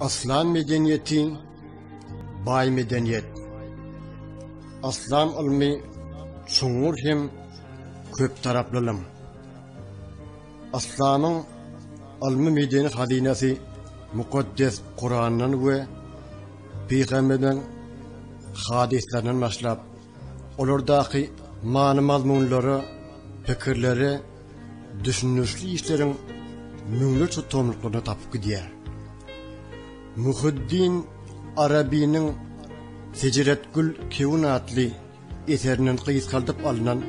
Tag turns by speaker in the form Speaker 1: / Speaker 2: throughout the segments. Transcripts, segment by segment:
Speaker 1: Aslan medeniýeti baý medeniýet. Aslan ylmy çuňňur hem köp taraplylym. Aslanyň ylmy medeni hazynasy mukaddes Kurandan we pygamberiň hadyslaryndan başlap, olardaky many-mazmunlara, pikirlere düşündirişli işleriň müňlerçe tomluklaryny tapyp gidýär. Muhyiddin Arabiniň Seceretgül Kewun atly eserinden gysgaldyp alnan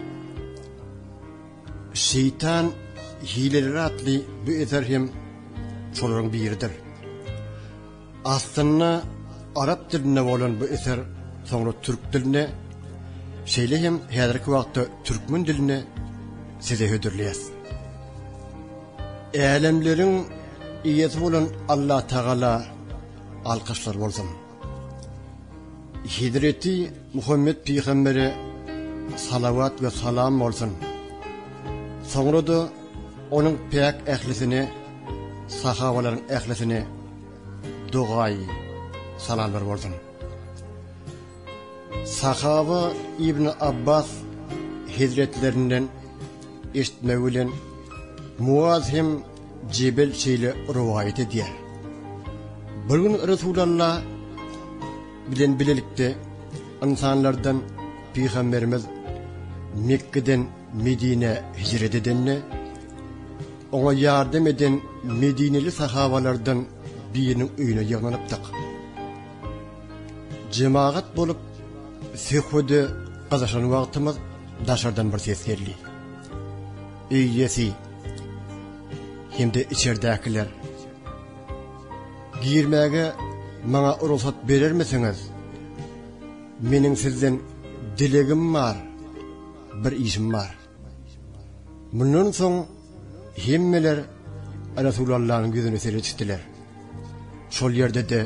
Speaker 1: Şeýtan hileleri atly bu eser hem şolaryň biridir. Aslynda arap dilinde bolan bu eser soňra türk diline, şeýle hem häzirki wagtda türkmen diline size hödürleýäs. Älemleriň Eýesi bolan Allatagala alkyşlar bolsun. Hezreti Muhammet pygambere salawat we salam bolsun. Soňra-da onuň päk ählisine Sahabalaryň ählisine dogaýy salamlar bolsun. Sahaba Ibn Abbas hezretlerinden eşitmegi bilen Muaz hem Jebel şeýle rowaýat edýär. Bir gün Resulullah bilen bilelikde ynsanlardan pygamberimiz Mekgeden Medinä hijret edende, oňa ýardam eden medineli sahabalardan biriniň öýüne ýygnanypdyk. Jemagat bolup, söhbede gyzyşan wagtymyz daşardan bir ses geldi. Öý iýesi hem-de içerdäkiler, Girmäge maňa rugsat berermisiňiz? Meniň sizden dilegim bar. bir işim bar. Mundan soň hemmeler Resulallanyň ýüzüne seretişdiler. Şol ýerde-de,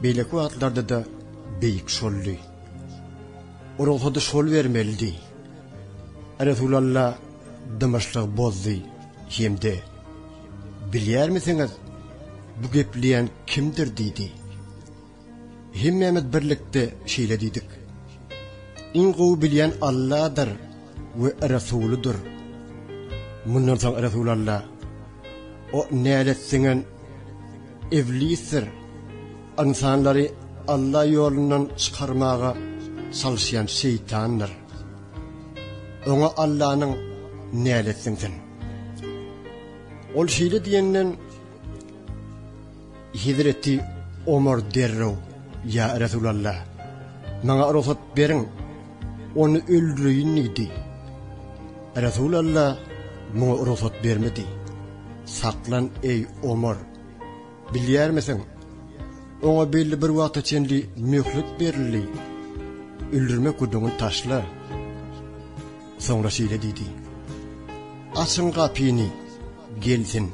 Speaker 1: beýleki wagtlarda-da beýik şoldy. O rugsady şol bermelidi. Resulalla dymyşlygy bozdy hem-de Bilýärmisiňiz, bu gepleýän kimdir diýdi. Hemmämiz birlikde şeýle diýdik. Iň gowy bilýän Alladyr we Resulydyr. Mundan soň Resul Alla, O nälet siňen Iblisdir, ynsanlary Alla ýolundan çykarmaga çalyşýan şeýtandyr. Oňa Allanyň nälet siňsin. Ol şeýle diýenden, Hezreti Omar derrew, Ýa Resulalla! Maňa rugsat beriň, ony öldüreýin diýdi. Resulalla muňa rugsat bermedi. Saklan, eý, Omar! Bilýärmisiň, oňa belli bir wagta çenli möhlet berildi. Öldürmek gürrüňini taşla. Soňra şeýle diýdi, Açyň gapyny, gelsin!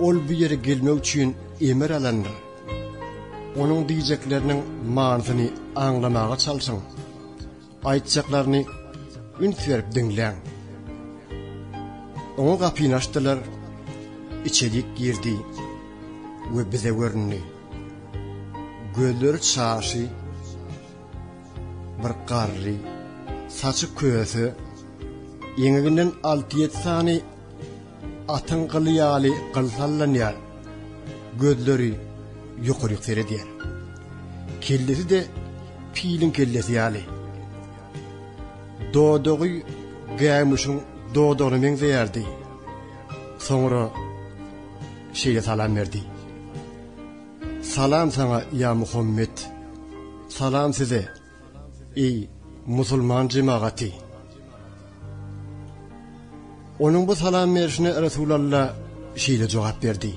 Speaker 1: Ol bu ýere gelmek üçin emir alandyr. Onuň diýjekleriniň manysyny aňlamaga çalşyň. Aýtjaklaryny üns berip diňläň. Oňa gapyny açdylar, içerik girdi we bize göründi. Gözleri çaşy, bir garry, saçy köse, eňeginden alty-ýedi sany Atyň gyly ýaly gyl sallanýar. Gözleri ýokaryk seredýär. Kellesi-de piliň kellesi ýaly. Dodagy gämuşyň dodagyna meňzeýärdi. Soňra şeýle salam berdi. Salam saňa, ýa Muhammet! Salam size! Eý, musulman jemagaty! Onuň bu salam berşine Resulalla şeýle jogap berdi: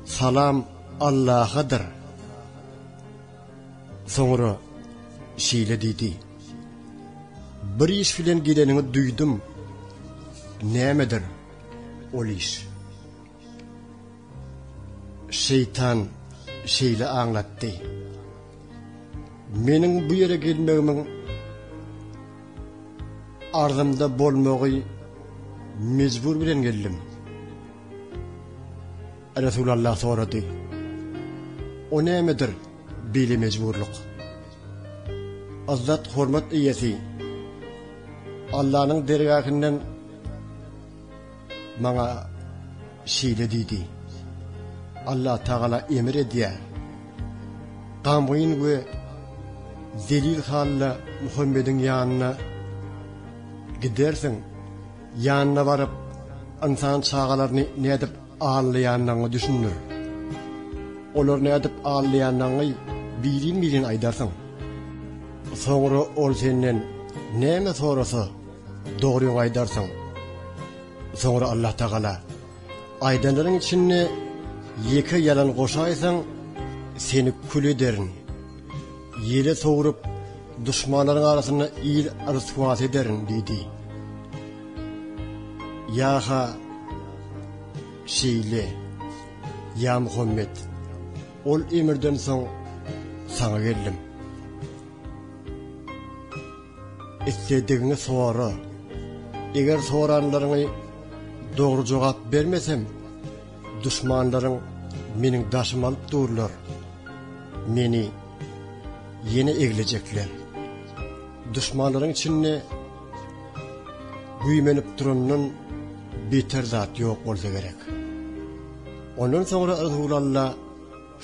Speaker 1: Salam Allahadyr. Soňra şeýle diýdi: Bir iş bilen geleniňi duýdum. Nämedir ol iş? Şeýtan şeýle aňlatdy. Meniň bu ýere gelmegimiň arzymda bolmagy mejbur bilen geldim. Resulallah sorady. O nämedir beýle mejburlyk? Izzat hormat eýesi Allanyň dergahynyň Maňa şeýle diýdi, Allatagala emr edýär, Gamgyn we zelil halda Muhammediň ýanyna gidersiň, ýanyna baryp, ynsan çagalaryny nädip aldýandygyňy düşündir. Olary nädip aldýandygyňy birin-birin aýdarsyň. Soňra ol senden näme sorasa, Dogryňy aýdarsyň. Soňra Allah Tagala, Aýdanlaryň içinde ýeke ýalan goşaýsaň, seni kül ederin. Ýele sowrup, duşmanlaryň arasynda il ryswasy ederin diýdi. Ýa-ha şeýle, ýa Muhammet, ol emirden soň saňa geldim. Isledigiňi sora. Eger soranlaryňy dogry jogap bermesem, duşmanlaryň meniň daşymy alyp durlar. Meni ýene eglejekler. Duşmanlaryň içinde güýmenip durandan beter zat ýok bolsa gerek. Ondan soňra Yzhulalla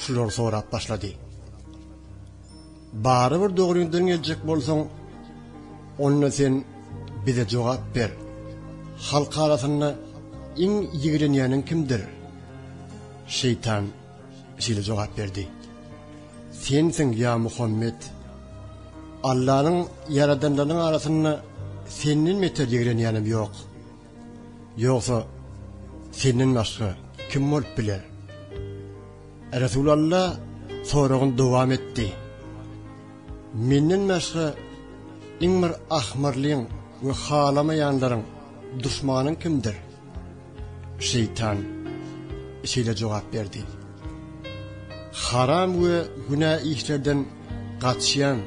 Speaker 1: şulary sorap başlady. Barybir dogryňdan geljek bolsaň, onda sen bize jogap ber. Halk arasynda iň ýigrenýäniň kimdir? Şeýtan şeýle jogap berdi. Sensiň, ýa Muhammet! Allanyň ýaradanlarynyň arasynda senden beter ýigrenýänim ýok. Ýogsa, Senden başga kim bolup biler? Resulalla soragyny dowam etdi. Menden başga iň bir ahmyrlyň we halamaýanlaryň duşmanyň kimdir? Şeýtan şeýle jogap berdi. Haram we günä işlerden gaçýan,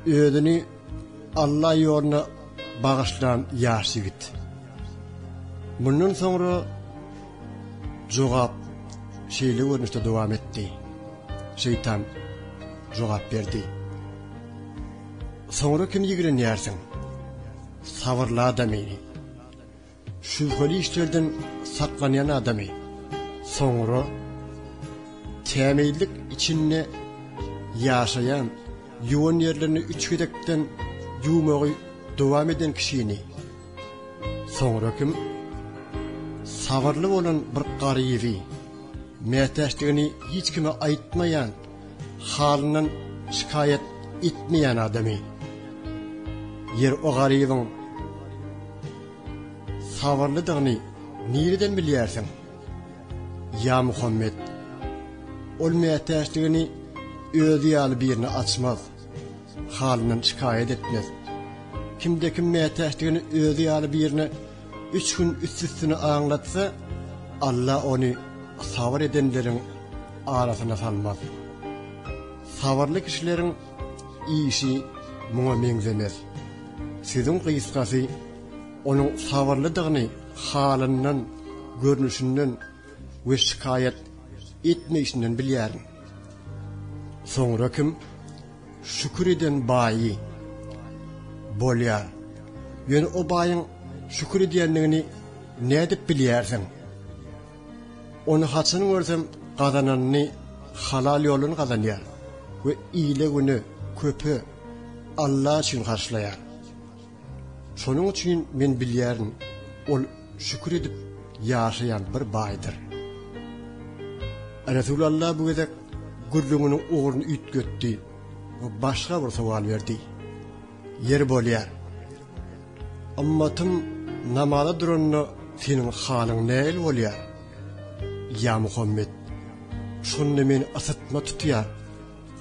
Speaker 1: özüni Alla ýoluna bagyşlan ýaş ýigit. Mundan soňra jogap şeýle görnüşde dowam etdi. Şeýtan jogap berdi. Soňra kim ýigrenýärsiň? Sabyrla-da meni. Şübheli işlerden saklanýan adamy soňra tämizlik içinde ýaşaýan, ýuwan ýerlerini üç gezekden ýuwmagy dowam eden kişini, soňra kim sabyrly bolan bir garyby, mätäçdigini hiç kime aýtmaýan, halyndan şikaýat etmeýän adamy. Ýer o garybyň. Sabyrlydygyny nireden bilýärsiň? Ýa Muhammet, ol mätäçligini özi ýaly birine açmaz, halyndan şikaýat etmez. Kimde-kim mätäçligini özi ýaly birine üç gün üst-üstüne aňlatsa, Alla ony sabyr edenleriň arasyna salmaz. Sabyrly kişileriň işi muňa meňzemez. Sözüň gysgasy, onuň sabyrlydygyny halyndan, görnüşinden we şikaýat etmeýşinden bilýärin. Soňra kim şükür eden baýy bolýar? Ýöne o baýyň şükür edýändigini nädip bilýärsiň? Ony haçan görsem gazananyny halal ýoldan gazanýar we ile güne köpe Alla üçin harçlaýar. Şonuň üçin men bilýärin ol şükür edip ýaşaýan bir baýdyr. Resul Alla bu gezek gürrüňiniň ugruny üýtgetdi we başga bir sowal berdi. Ýeri bolýar, Ymmatym namaza duranda seniň halyň nähili bolýar? Ýa Muhammet, şonda men ysytma tutýar,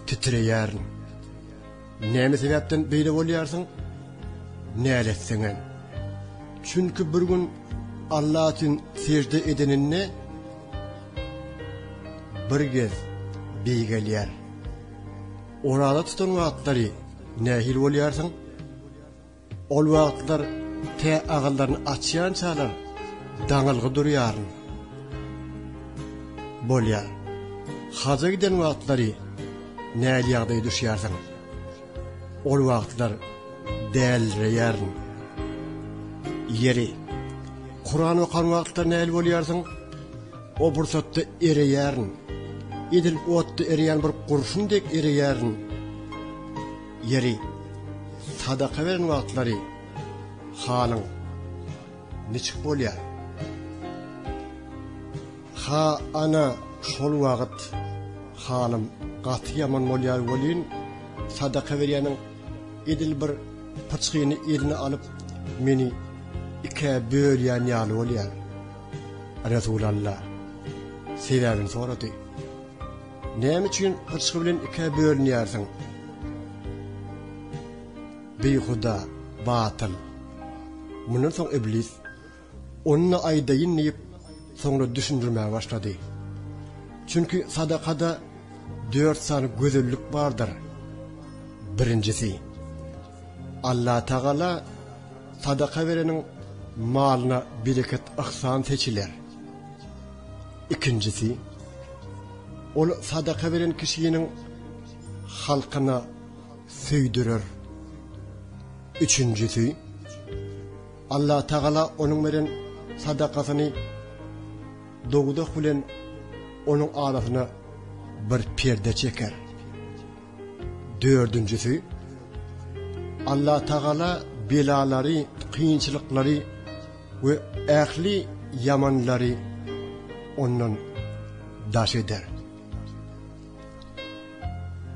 Speaker 1: titreýärin. Näme sebäpden beýle bolýarsyň? Näletseňem. Çünki bir gün Alla üçin sežde edeninde bir gez beýgelýär. Oraza tutan wagtlary nähili bolýarsyň? Ol wagtlar tä agyllaryny açýançalar daňylgy durýaryn. Bolýar. Haja giden wagtlary näl ýagdaýa düşýärsiň? Ol wagtlar dälreýärin. Ýeri, Kuran okan wagtlar näl bolýarsyň? O pursatda ereýärin. Edil otda ereýän bir gurşun dek ereýärin. Ýeri, sadaka beren wagtlary halyň niçik bolýar? Ha, ana, şol wagt halym gaty ýaman bolýar welin, sadaka berýäniň edil bir pyçgyny eline alyp, meni ikä bölýän ýaly bolýar. Resulalla sebäbini sorady. Näme üçin gyrçgy bilen ikä bölünýärsiň? Beýhuda, batyl. Mundan soň Iblis, Ony-da aýdaýyn diýip, soňra düşündirmäge başlady. Çünki sadakada dört sany gözellik bardyr. Birinjisi, Allatagala sadaka bereniň malyna bereket-yhsan seçiler. Ikinjisi, ol sadaka beren kişiniň halkyna söýdürer. Üçünjisi, Allatagala onuň beren sadakasyny dowzah bilen onuň arasyna bir perde çeker. Dördünjisi, Allatagala belalary, kynçylyklary We ähli ýamanlary ondan daş eder.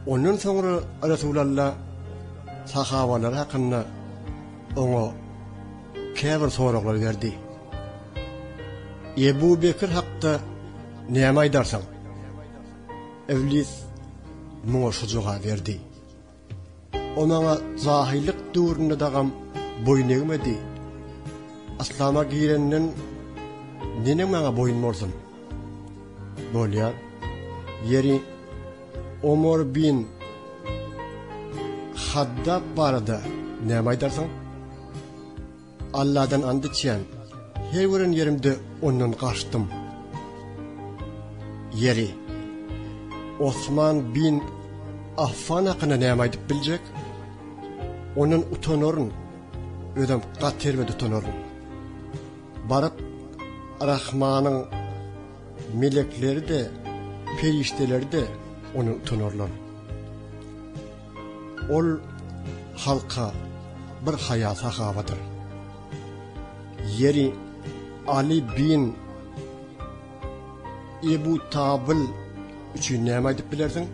Speaker 1: Ondan soňra Resulalla sahabalary hakynda oňa käbir soraglar berdi. Ebu Bekir hakda näme aýdarsyň? Iblis muňa şu jogap berdi. O maňa jahyllyk döwründe dagam boýun egmedi. Yslama girenden neneň maňa boýun bolsun? Bolýar. Ýeri Omar bin Haddab barada näme aýdarsyň? Alladan and içýän, her gören ýerimde ondan gaçdym. Ýeri, Osman bin Affan hakynda näme aýdyp biljek? Ondan utanaryn, özüm gaty erbet utanaryn. Baryp, Rahmanyň melekleri-de, perişdeleri-de ondan utanarlar. Ol halka bir haýa-sahawadyr. Ýeri, Aly bin Ebu Tabyl üçin näme aýdyp bilersiň?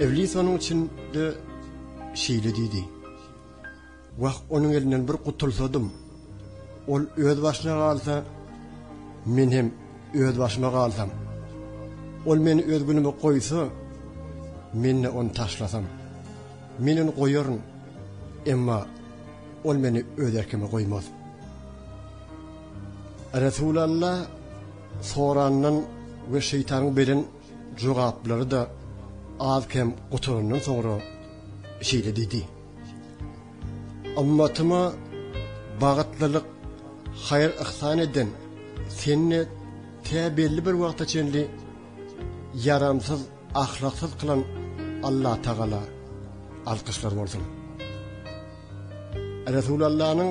Speaker 1: Iblis onuň üçin-de şeýle diýdi. Wah, onuň elinden bir gutulsadym! Ol öz başyna galsa, men hem öz başyma galsam! Ol meni öz günüme goýsa, men-de ony taşlasam! Men ony goýaryn, emma ol meni öz erkime goýmaz. Resulalla sorandan we şeýtanyň beren jogaplary-da az-kem gutarandan soňra şeýle diýdi. Ymmatyma bagytlylyk, haýyr-yhsan eden Seni tä belli bir wagta çenli ýaramsyz, ahlaksyz kylan Allatagala alkyşlar bolsun. Resulallanyň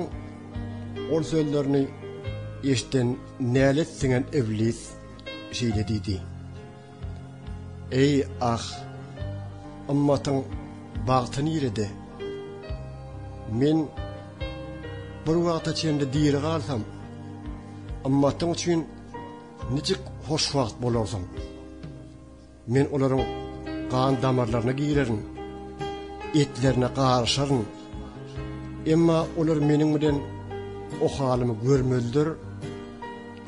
Speaker 1: ol sözlerini eşiden nälet siňen Iblis şeýle diýdi. Eý, ah! Ymmatyň bagty nirede? Men bir wagta çenli diri galsam, ymmatyň üçin nijik hoşwagt bolarsyň! Men olaryň gan damarlaryna girerin, etlerine garyşaryn. Emma olar meniň bilen o halymy görmezler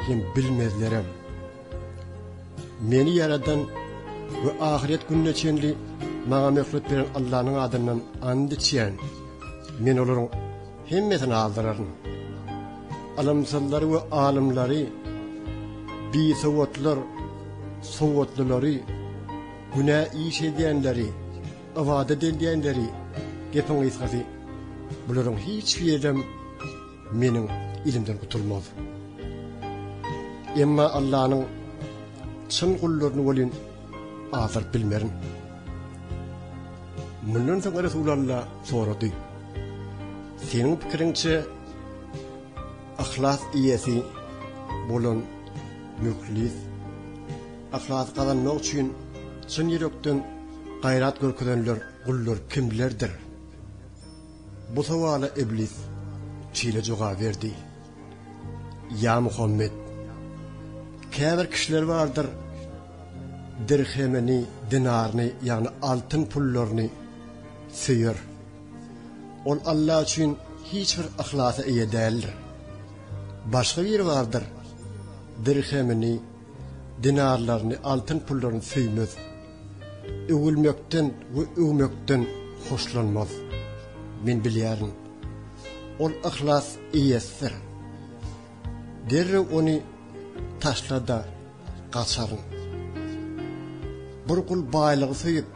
Speaker 1: hem bilmezlerem. Meni ýaradan we ahyret gününe çenli maňa möhlet beren Allanyň adyndan ant içýän, men olaryň hemmesini aldyraryn. Ylymsyzlary we alymlary, bisowatlar, sowatlylar-y, günä iş edýänleri, ybadat edýänleri, gepiň gysgasy, bularyň hiç birem. Meniň ilimden gutulmaz. Emma Allanyň çyn gullaryny welin azdyryp bilmerin. Mundan soň Resul Alla sorady. Seniň pikiriňçe ahlas iýesi bolan mühlis ahlas gazanmak üçin çyn ýürekden gaýrat görkezenler gullar kimlerdir? Bu sowala Iblis şeýle jogap berdi, Ýa Muhammet! Käbir kişiler bardyr, dirhemini, dinaryny, ýagny altyn pullaryny söýer. Ol Alla üçin hiç bir yhlasa eýe däldir. Başga biri bardyr, dirhemini, Dinarlaryny, altyn pullaryny söýmez. Öwülmekden we öwmekden hoşlanmaz. Men bilýärin. Ol yhlas eýesidir. Derrew ony taşla-da gaçaryn. Bir gul baýlygy söýüp,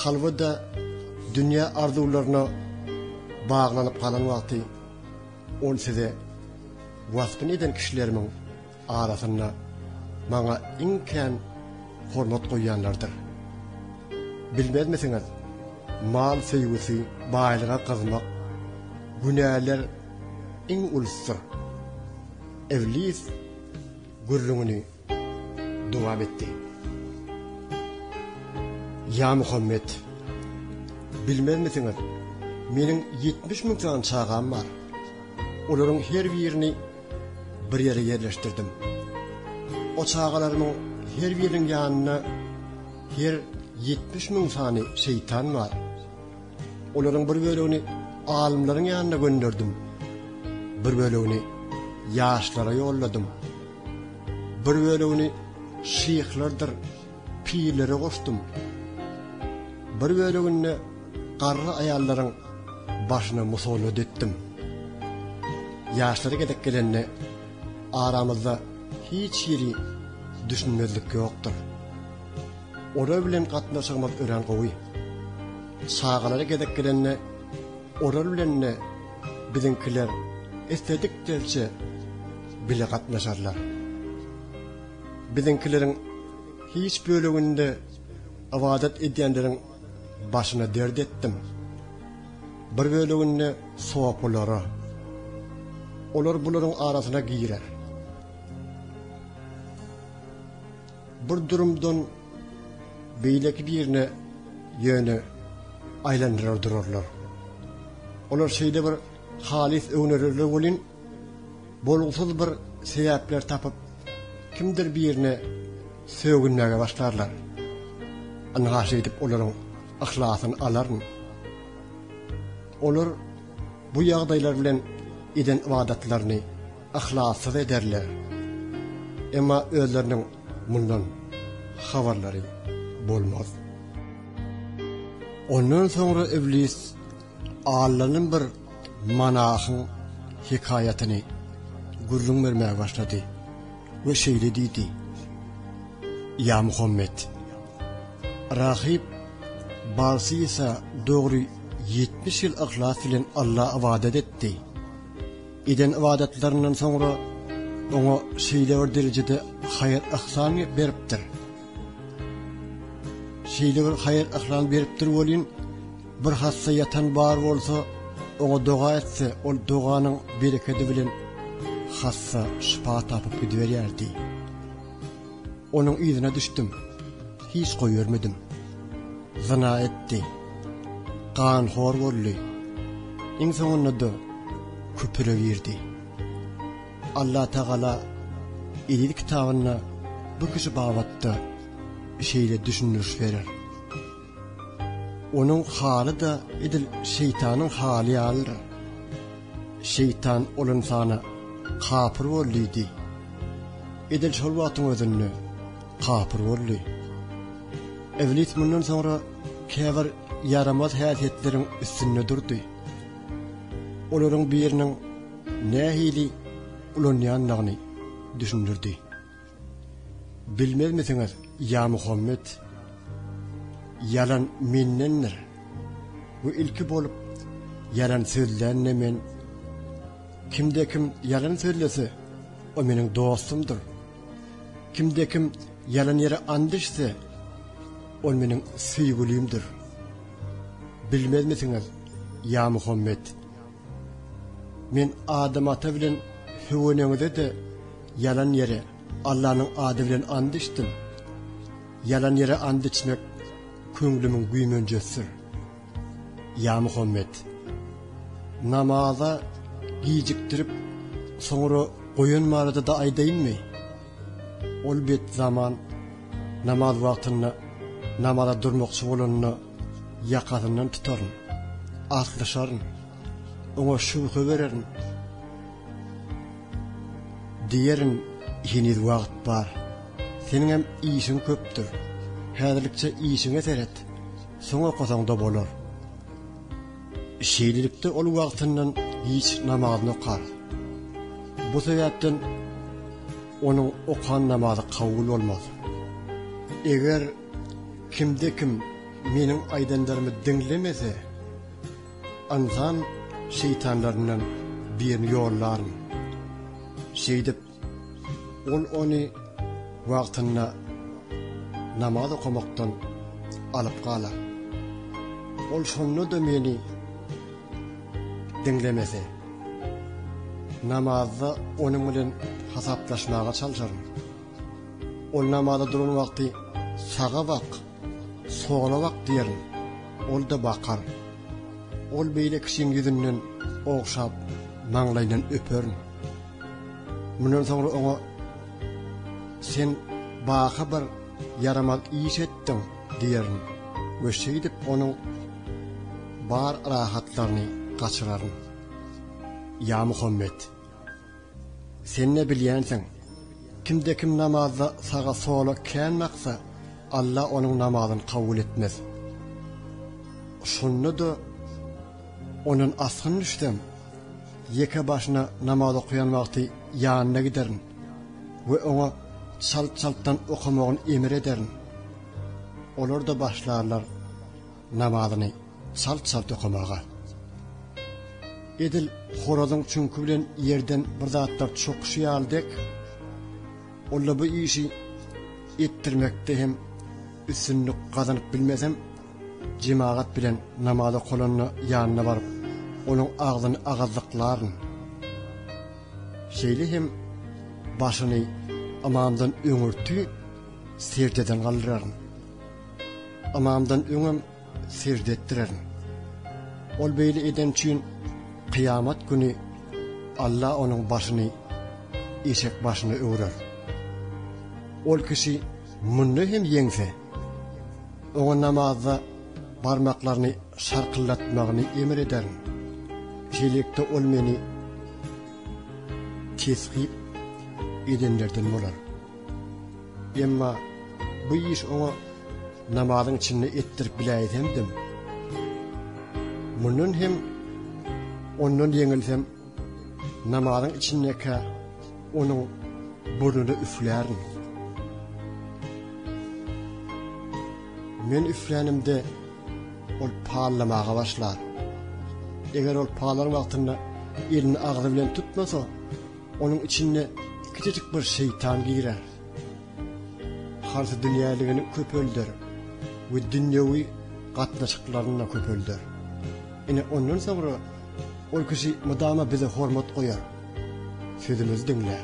Speaker 1: kalby-da dünýä arzuwlaryna baglanyp galan wagty, ol size wasbyny eden kişilerimiň arasynda maňa iň kän hormat goýýanlardyr. Bilmezmisiňiz, mal söýgüsi, baýlyga gyzmak, günäler iň ulusdyr. Iblis gürrüňini dowam etdi. Ýa Muhammet, bilmezmisiňiz, meniň ýetmiş müň sany çagam bar. Olaryň her birini bir ýere ýerleşdirdim. O çagalarymyň her biriniň ýanynda her ýetmiş müň sany şeýtan bar. Olaryň bir bölegini alymlaryň ýanyna gönderdim. Bir bölegini ýaşlara ýolladym. Bir bölegini şyhlardyr Pirlere goşdum. Bir böleginde garry aýallaryň başyna musallat etdim. Ýaşlary gezek gelende aramyzda hiç hili düşünmezlik ýokdur. Olar bilen gatnaşygymyz örän gowy. Çagalary gezek gelende olar bilen de biziňkiler isledik derçe bile gatnaşarlar. Biziňkileriň hiç böleginde ybadat edýänleriň başyna dert etdim. Bir böleginde sopylara. Olar bularyň arasyna girer. Bir durumdan beýleki birine ýöne aýlandyrar durarlar. Olar şeýle bir halys öwnererler welin, bolgusyz bir sebäpler tapyp, kimdir birine sögünmäge başlarlar. Ynha şeýdip olaryň yhlasyny alaryn. Olar bu ýagdaýlar bilen eden ybadatlaryny yhlassyz ederler. Emma özleriniň mundan habarlary bolmaz. Ondan soňra Iblis Allanyn bir monahyň hekaýatyny gürrüň bermäge başlady we şeýle diýdi, Ýa Muhammet! Rahyp Balsisa dogry ýetmiş ýyl yhlas bilen Alla ybadat etdi. Eden ybadatlaryndan soňra oňa şeýle bir derejede haýyr-yhsan beripdir. Şeýle bir haýyr-yhlan beripdir welin, Bir hassa ýatan bar bolsa, oňa doga etse, ol doganyň berekedi bilen hassa şypa tapyp gidiberýärdi. Onuň yzyna düşdüm. Hiç goýbermedim. Zyna etdi. Ganhor boldy. Iň soňunda-da küpüre girdi. Allah Tagala Eziz kitabynda bu kişi babatda şeýle düşündiriş berer. Onuň haly-da edil şeýtanyň haly ýalydyr. Şeýtan ol ynsana, Kapyr bol diýdi. Edil şol wagtyň özünde kapyr boldy. Iblis mundan soňra käbir ýaramaz häsiýetleriň üstünde durdy. Olaryň biriniň nähili ulanýandygyny düşündirdi. Bilmezmisiňiz, ýa Muhammet? Ýalan mendendir. Bu ilki bolup, ýalan sözlän-de men. Kimde-kim ýalan sözlese, o meniň dostumdyr. Kimde-kim ýalan ýere and içse, ol meniň söýgülimdir. Bilmezmisiňiz, ýa Muhammet? Men Adam ata bilen Höwe eneňize-de ýalan ýere Allanyň ady bilen and içdim. Ýalan ýere and içmek köňlümiň güýmenjesidir. Ýa Muhammet! Namaza gijikdirip, soňra goýan barada-da aýdaýynmy? Ol bet zaman namaz wagtynda namaza durmakçy bolanda, Ýakasyndan tutaryn, atlyşaryn, oňa şübhe bererin. Diýerin, Heniz wagt bar. Seniňem işiň köpdür. Häzirlikçe işiňe seret, soň okasaň-da bolar. Şeýlelikde ol wagtyndan giç namazyny okar. Bu sebäpden onuň okan namazy kabul bolmaz. Eger Kimde kim meniň aýdanlarymy diňlemese, ynsan şeýtanlaryndan birini ýollaryn. Şeýdip, ol ony wagtynda namaz okamakdan alyp galar. Ol şonda-da meni diňlemese, namazda onuň bilen hasaplaşmaga çalşaryn. Ol namaza duran wagty, Saga bak, sola bak diýerin. Ol-da bakar. Ol beýle kişiň ýüzünden ogşap, maňlaýyndan öperin. Mundan soňra oňa, Sen baky bir ýaramaz iş etdiň diýerin we şeýdip onuň bar rahatlaryny gaçyraryn. Ýa Muhammet! Sen ne bilýänsiň? Kimde-kim namazda saga-sola kän baksa, Alla onuň namazyny kabul etmez. Şonda-da ondan asgyn düşsem, ýeke başyna namaz okaýan wagty ýanyna giderin we oňa çalt-çaltdan okamagyny emr ederin. Olar-da başlarlar. namazyny çalt-çalt okamaga, edil horazyň çüňki bilen ýerden bir zatlar çokyşy ýaly dek, ol-da bu işi etdirmekde hem üstünlik gazanyp bilmesem, jemagat bilen namaz okalanda ýanyna baryp, onuň agzyny agazlyklaryn. Şeýle hem başyny ymamdan öňürti seždeden galdyraryn. Ynamdan öňem sežde etdirerin. Ol beýle edeni üçin kyýamat güni Alla onuň başyny eşek başyna öwrer. Ol kişi munda hem ýeňse, oňa namazda barmaklaryny şarkyldatmagyny emr ederin. Şeýlelikde ol meni kesgip edenlerden bolar. Emma bu iş oňa namazyň içinde etdirip biläýsemdim, mundan hem ondan ýeňilsem, namazyň içindekä onuň burnuna üflärin. Men üflänimde ol pallamaga başlar. Eger ol palan wagtynda elini agzy bilen tutmasa, Onuň içinde kiçijik bir şeýtan girer. Harsy dünýäligini köpelder we dünýewi gatnaşyklaryny-da köpelder. Ine, ondan soňra ol kişi mydama bize hormat goýar, sözümizi diňlär,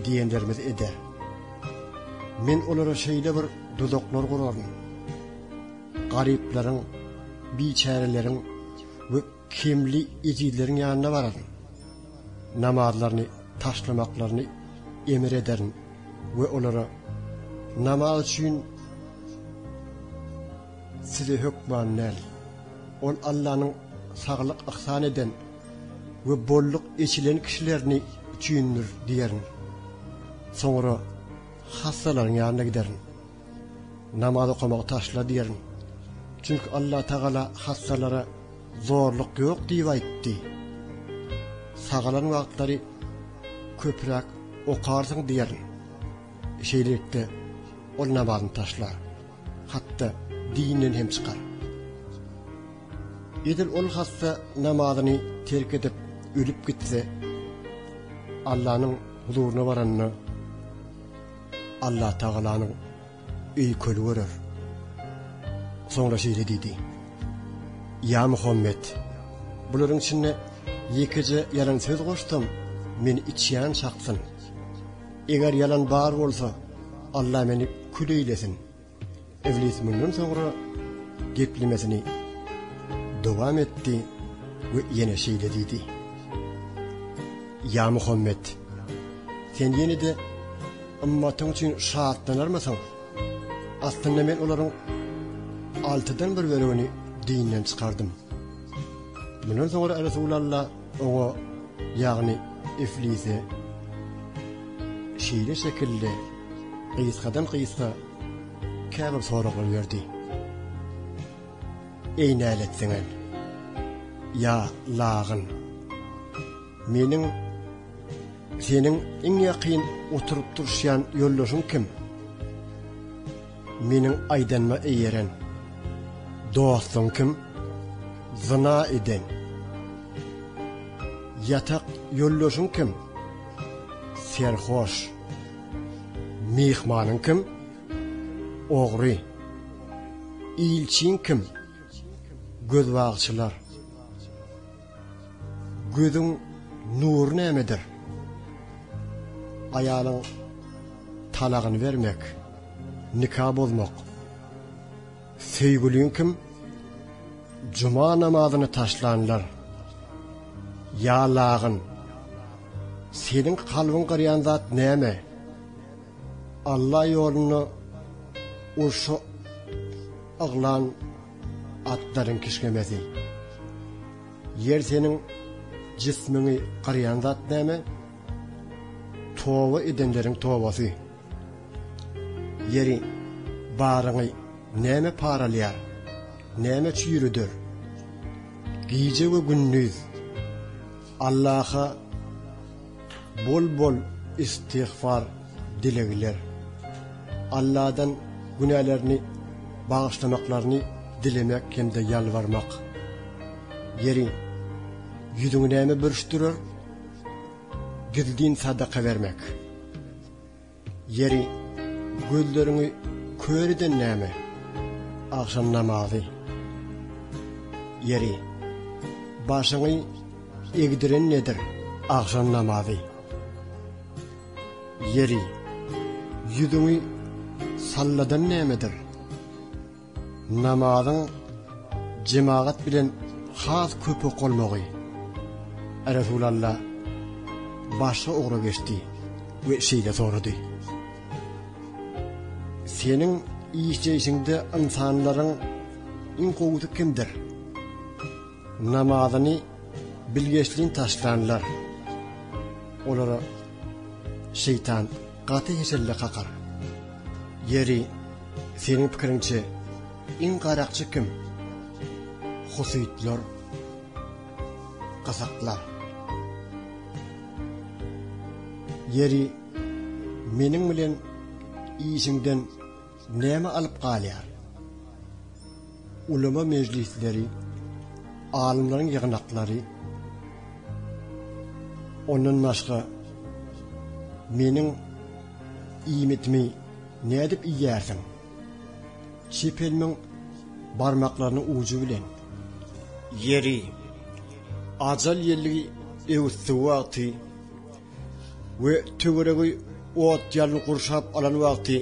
Speaker 1: diýenlerimizi eder. Men olara şeýle bir duzaklar guraryn. Garyplaryň, biçäreleriň we Kemli ezizleriň ýanyna bararyn. Namazlaryny taşlamaklaryny emr ederin we olara, Namaz üçin size hökman näl? Ol Allanyň saglyk yhsan eden we bolluk eçilen kişilerini üçindir diýerin. Soňra hassalaryň ýanyna giderin. Namaz okamagy taşla diýerin. Çünki Allatagala hassalara Zorluk ýok diýip aýtdy. Sagalan wagtlary köpräk okarsyň diýerin. Şeýlelikde, ol namazyny taşlar, hatda dinden hem çykar. Edil ol hassa namazyny terk edip, ölüp gitse, Allanyň huzuryna baranda, Allatagalanyň Öýkeli görer. Soňra şeýle diýdi, Ýa Muhammet, bularyň içinde ýekeje ýalan söz goşsam, meni içýän çaksyn. Eger ýalan bar bolsa, Alla meni kül eýlesin. Iblis mundan soňra geplemesini dowam etdi we ýene şeýle diýdi, Ýa Muhammet, sen ýene-de Ymmatyň üçin şatlanarmysyň? Aslynda men olaryň altydan bir bölegini dinden çykardym. Mundan soňra Resulalla oňa, ýagny Iflise şeýle şekilde gysgadan-gysga käbir soraglar berdi. Eý nälet siňen! Ýa lagyn! Meniň seniň iň ýakyn oturyp duruşýan ýoldaşyň kim? Meniň aýdanyma eýeren. Dostuň kim? Zyna eden. Ýatak ýoldaşyň kim? Serhoş. Myhmanyň kim? Ogry. Ilçiň kim? Gözbagçylar. Gözüň nury nämedir? Aýalyň talagyny bermek, nika bozmak. Söýgüliň kim? Juma namazyny taşlanlar. Ýa lagyn. Seniň kalbyň gyrýan zat näme? Alla ýolunda urşa yglan Atlaryň kişňemesi. Ýer seniň jismiňi gyrýan zat näme? Toba edenleriň tobasy. Ýeri, baryňy näme paralýar? Näme çüýrüder? Gije we gündiz. Allaha bol bol istigfar dilegiler. Alladan günälerini bagyşlamaklaryny dilemek hemde ýalbarmak. Ýeri, ýüzüňi näme bürüşdirer? Gizlin sadaka bermek. Ýeri, gözleriňi kör eden näme? Agşam namazy. Ýeri, başyňy egdiren nedir? Agşam namazy. Ýeri, ýüzüňi salladan nämedir? Namazyň jemagat bilen has köp okalmagy Resulalla başga ugra geçdi we şeýle sorady, Seniň işleýşiňde ynsanlaryň iň gowusy kimdir? Namazyny bilgeşleýin taşlanlar olara şeýtan Gaty heşelle kakar. Ýeri, seniň pikiriňçe, iň garakçy kim? Husytlar. Kazaklar. Ýeri, meniň bilen işiňden Näme alyp galýar? Ulema mejlisleri, alymlaryň ýygnaklary, ondan başga meniň iýmitimi nädip iýýärsiň? Çep elmiň barmaklarynyň ujy bilen. Ýeri, ajal ýelligi öwüssi wagty we töweregi ot ýalyn gurşap alan wagty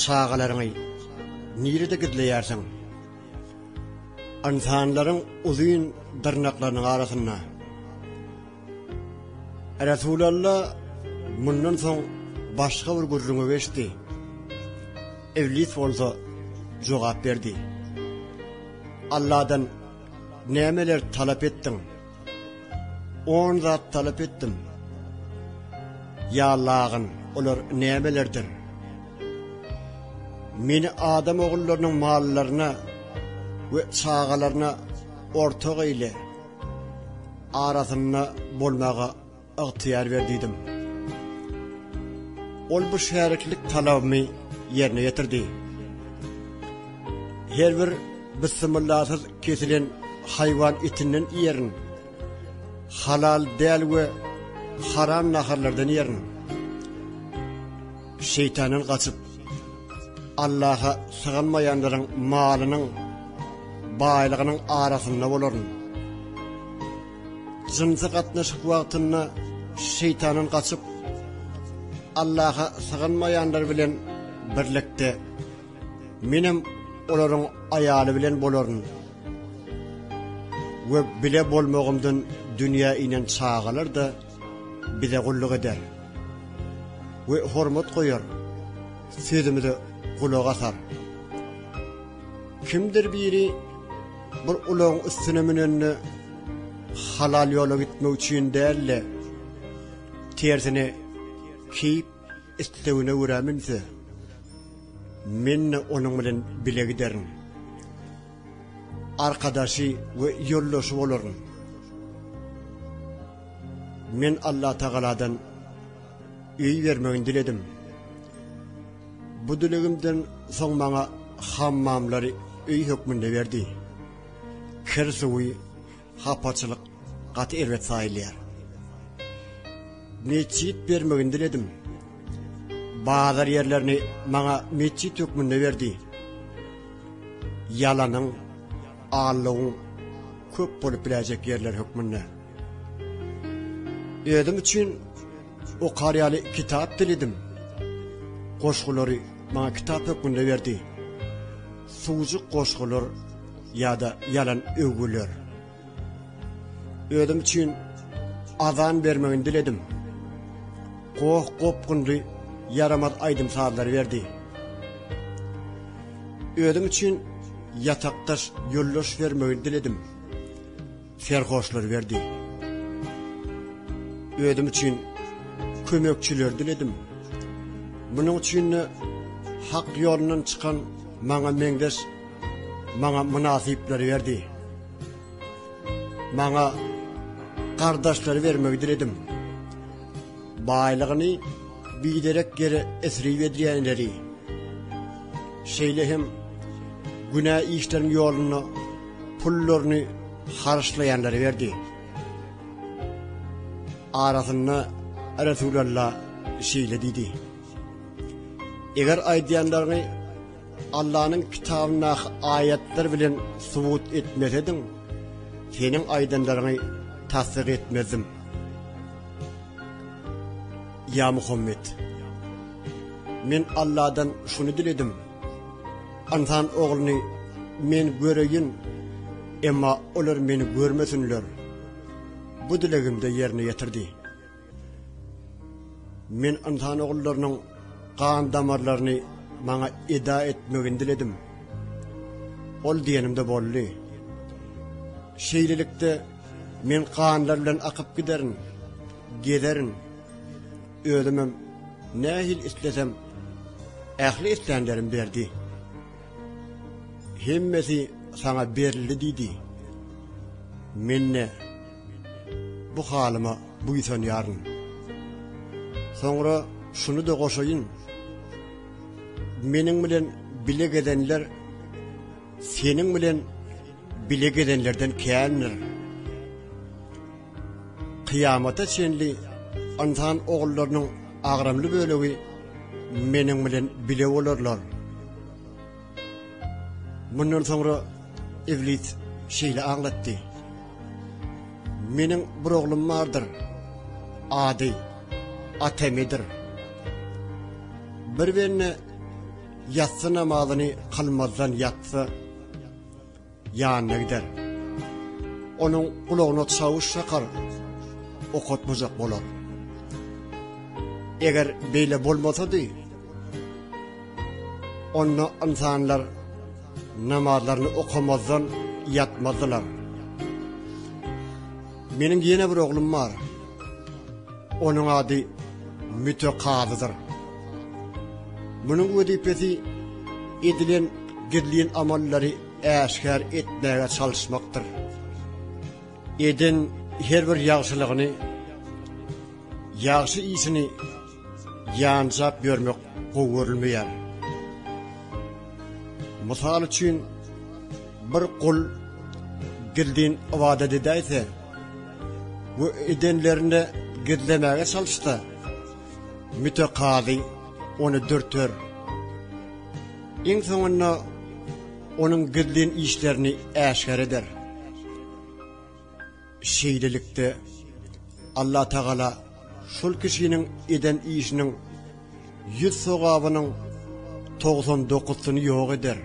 Speaker 1: çagalaryňy nirede gizleýärsiň? Ynsanlaryň uzyn dyrnaklarynyň arasynda. Resulalla mundan soň başga bir gürrüňi geçdi. Iblis bolsa jogap berdi. Alladan nämeler talap etdiň? On zat talap etdim. Ýa lagyn, olar nämelerdir? Meni adam ogullarynyň mallaryna we çagalaryna ortak eýle, arasynda bolmaga Ygtyýar ber diýdim. Ol bu şäriklik talabymy ýerine ýetirdi. Her bir Bismyllasyz kesilen haýwan etinden iýerin. Halal däl we haram naharlardan iýerin. Şeýtandan gaçyp, Allaha syganmaýanlaryň malynyň, baýlygynyň arasynda bolaryn. Jynsy gatnaşyk wagtynda Şeýtandan gaçyp, Allaha sygynmaýanlar bilen birlikde Menem olaryň aýaly bilen bolaryn we bile bolmagymdan dünýä inen çagalar-da Bize gulluk eder we hormat goýar, sözümize gulak asar. Kimdir biri bir ulagyň üstüne münende halal ýola gitmek üçin däl-de, tersine keýp islegine görä münse, men-de onuň bilen bile giderin. Arkadaşy we ýoldaşy bolaryn. Men Allatagaladan öý bermegini diledim. Bu dilegimden soň maňa hammamlary öý hökmünde berdi. Kir suwy, hapaçylyk gaty erbet saýylýar. Metjit bermegini diledim. Bazar ýerlerini maňa metjit hökmünde berdi. Ýalanyň, allowyň köp bolup biläýjek ýerleri hökmünde. Özüm üçin. Okar ýaly kitap diledim. Goşgulary maňa kitap hökmünde berdi. Suwjuk goşgular ýa-da ýalan öwgüler. Özüm üçin azan bermegini diledim. Goh-gopgunly ýaramaz aýdym-sazlary berdi. Özüm üçin ýatakdaş ýoldaş bermegini diledim. Serhoşlar berdi. Özüm üçin kömekçiler diledim. Munuň üçin-de hak ýolundan çykan maňa meňzeş, maňa mynasyplary berdi. Maňa gardaşlary bermegi diledim. Baýlygyny biderek ýere esrip edýänleri, şeýle hem günä işleriň ýolunda pullaryny haryçlaýanlara berdi. Arasynda Resulalla şeýle diýdi. Eger aýdýanlaryňy Allanyň kitabyndaky aýatlar bilen subut etmesediň, seniň aýdanlaryňy tassyk etmezdim. Ya Muhammed, men Allahdan şunu diledim. Ynsan Ogluny Men göreýin, emma olar Meni görmesinler. Bu dilegimde ýerine ýetirdi. Men ynsan ogullarynyň gan damarlaryny Maňa eda etmegini diledim. Ol diýenimde boldy. Şeýlelikde, Men ganlar bilen akyp giderin, gezerin. Özümem nähili islesem, ähli islänlerim berdi. Hemmesi saňa berildi diýdi. Men-de bu halyma buýsanýaryn. Soňra şuny-da goşaýyn, meniň bilen bile gezenler seniň bilen bile gezenlerden kändir. Kyýamata çenli ynsan ogullarynyň agramly bölegi Meniň bilen bile bolarlar. Mundan soňra Iblis şeýle aňlatdy, Meniň bir oglum bardyr, ady Atemidir. Bir bende ýassy namazyny kylmazdan ýatsa, Ýanyna gider. Onuň gulagyna çawuş çakar. Okatmajak bolar. Eger beýle bolmasady, onda ynsanlar namazlaryny okamazdan ýatmazdylar. Meniň ýene bir oglum bar. Onuň ady Mütekazydyr. Munuň wezipesi edilen gizlin amallary äşgär etmäge çalyşmakdyr. Eden her bir ýagşylygyny, ýagşy işini ýanjap ýörmek gowy görülmeýär. Mysal üçin, bir gul gizlin ybadat edäýse, we edenlerini gizlemäge çalyşsa, mütekazy ony dürter. Iň soňunda onuň gizlin işlerini äşgär eder. Şeýlelikde, Allah Tagala şol kişiniň eden işiniň ýüz sogabynyň togsan dokusyny ýok eder,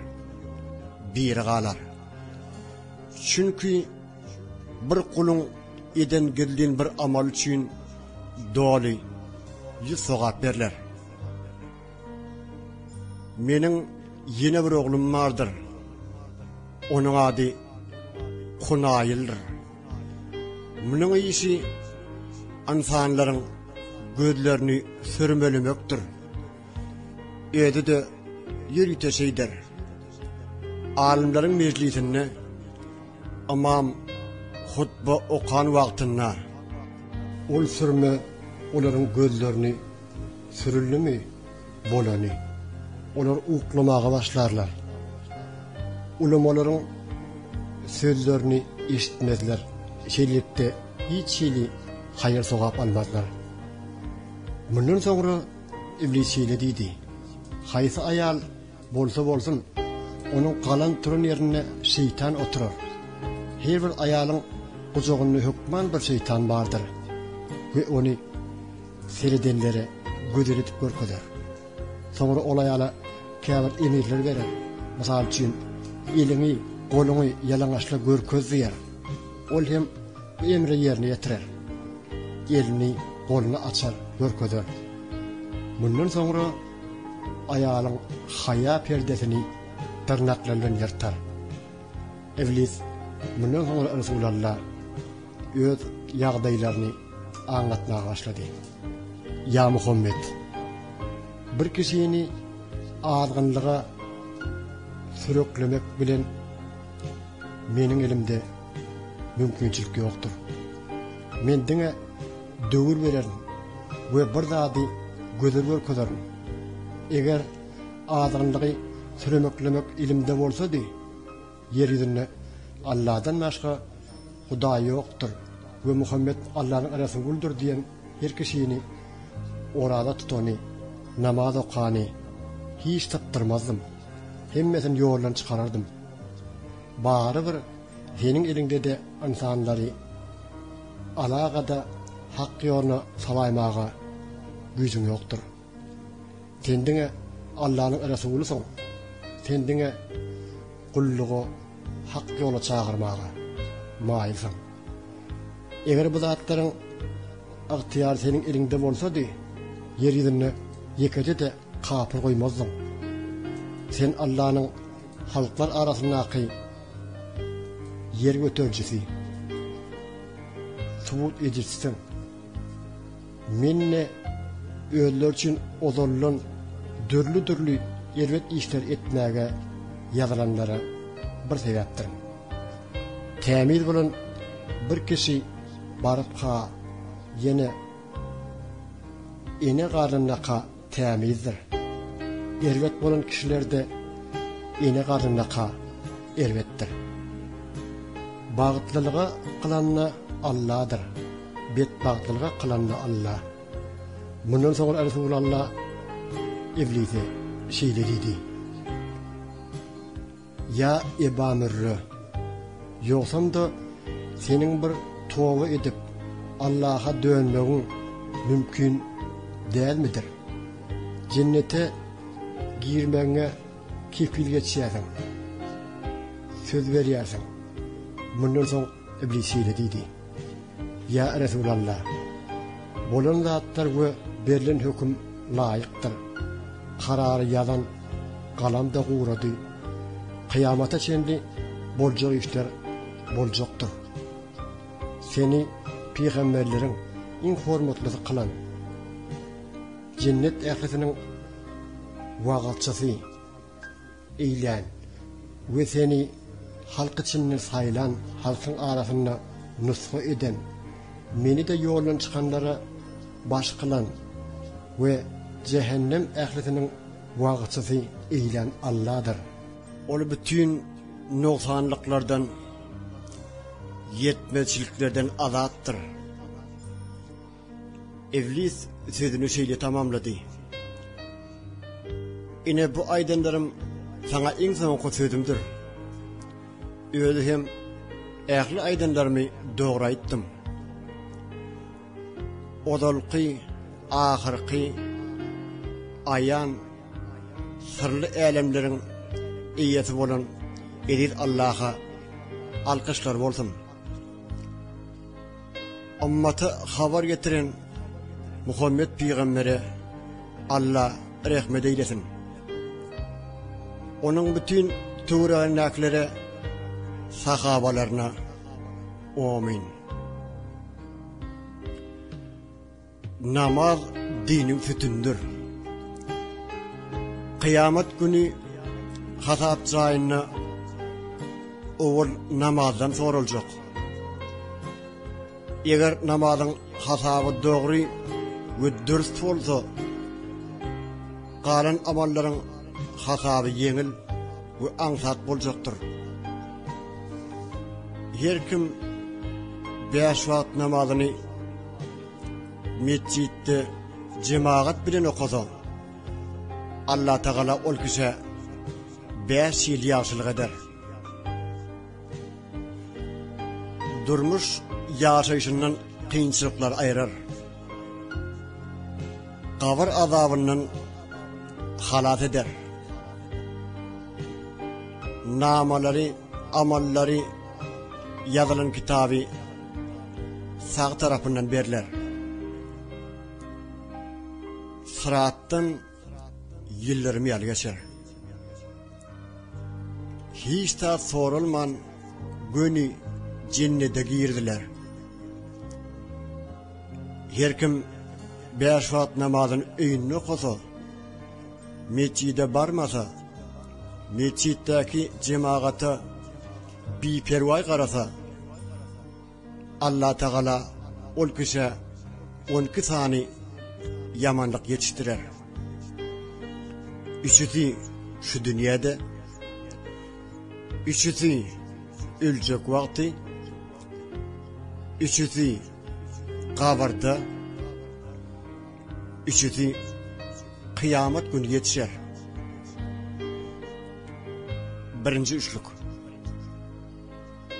Speaker 1: biri galar. Çünki, Bir guluň eden gizlin bir amaly üçin doly ýüz sogap berler. Meniň ýene bir oglum bardyr. Onuň ady Kunaýyldyr. Munuň işi ynsanlaryň gözlerini sürmelemekdir. Özi-de ýörite şeýder. Alymlaryň mejlisinde Ymam hutba okan wagtynda ol sürme olaryň gözlerini sürüldimi, bolany, olar uklamaga başlarlar. Ulamalaryň sözlerini eşitmezler, şeýlelikde, hiç hili haýyr-sogap almazlar. Mundan soňra Iblis şeýle diýdi, Haýsy aýal Bolsa bolsun, onuň galan turan ýerinde şeýtan oturar. Her bir aýalyň gujagynda hökman bir şeýtan bardyr we ony seredenlere gözel edip görkezer. Soňra ol aýala käbir emirler berer. Mysal üçin, Eliňi, goluňy ýalaňaçla görkez diýer. Ol hem bu emri ýerine ýetirer. Elini, goluny açar, görkezer. Mundan soňra Aýalyň haýa perdesini dyrnaklary bilen ýyrtar. Iblis mundan soňra Resulalla öz ýagdaýlaryny aňlatmaga başlady. Ýa Muhammet! Bir kişini azgynlyga süreklemek bilen meniň elimde mümkinçilik ýokdur. Men diňe döwür bererin we bir zady gözel görkezerin. Eger azgynlygy süremeklemek elimde bolsady, ýer ýüzünde Alladan başga hudaý ýokdur we Muhammet Allanyň resulydyr diýen her kişini, oraza tutany, namaz okany hiç sypdyrmazdym, hemmesini ýoldan çykarardym. Barybir seniň eliňde-de ynsanlary. Alagada hak ýoluna salaýmaga güýjüň ýokdur. Sen diňe Allanyň resulysyň. Sen diňe gullugy hak ýola çagyrmaga maýylsyň. Eger bu zatlaryň ygtyýary seniň eliňde bolsady, ýer ýüzünde ýekeje-de Kapyr goýmazdyň. Sen Allanyň halklar arasyndaky ýer göterijisi, subut edijisiň. Men-de özleri üçin ozaldan dürli-dürli erbet işleri etmäge ýazylanlara bir sebäpdirin. Tämiz bolan bir kişi baryp-ha ýene Ene garnyndaka tämizdir. Erbet bolan kişilerde ene garnyndaka erbetdir. Bagtlylyga kylanda Alladyr, betbagtlylyga kylanda Alla. Mundan soňra Resul Alla Iblise şeýle diýdi. Ýa Eba Mürre! Ýogsam-da, seniň bir toba edip, Allaha dönmegiň mümkin dälmidir? Jennete girmegiňe kepil geçýärsiň. Söz berýärsiň. Mundan soň Iblis şeýle diýdi. Ýa Resulalla! Bolan zatlar we berlen höküm laýykdyr. Karary ýazan galam-da gurady. Kyýamata çenli boljak işler boljakdyr. Seni pygamberleriň iň hormatlysy kylan, jennet ählisiniň wagyzçysy, eýlän we seni halk içinde saýlan, halkyň arasynda nusga eden, meni-de ýoldan çykanlara baş kylan we jähennem ählisiniň wagyzçysy eýlän Alladyr. Ol bütin nogsanlyklardan, ýetmezçiliklerden azatdyr. Iblis sözüni şeýle tamamlady, Ine, bu aýdanlarym saňa iň soňky sözümdir. Özi hem ähli aýdanlarymy dogry aýtdym. Ozalky, ahyrky, aýan, syrly älemleriň eýesi bolan eziz Allaha alkyşlar bolsun! Ummata habar getiren Muhammet pygambere Alla rehmet eýlesin. Onuň bütin töweregindäkilere, sahabalaryna. Amin. Namaz diniň sütündir. Kyýamat güni hasap jaýynda owal namazdan soraljak. Eger namazyň hasaby dogry we dürst bolsa, galan amallaryň hasaby ýeňil we aňsat boljakdyr. Her kim bäş wagt namazyny Metjitde jemagat bilen okasaň, Allatagala ol kişä bäş ýyl ýagşylyk eder. Durmuş ýaşaýşyndan kynçylyklar aýrar. Gabyr azabyndan halas eder. Namalary, amallary Ýazylan kitaby sag tarapyndan berler. Syratdan ýyldyrym ýaly geçer. Hiç zat soralman göni jennede girdiler. Her kim beş wagt namazyny öýünde okasa, Metjide barmasa, metjitdäki jemagata biperwaý garasa, Allatagala ol kişä on iki sany ýamanlyk ýetişdirer. Üçüsi şu dünýäde, üçüsi öljek wagty, üçüsi gabarda, Üçüsi Kyýamat güni ýetişer. Birinji üçlük.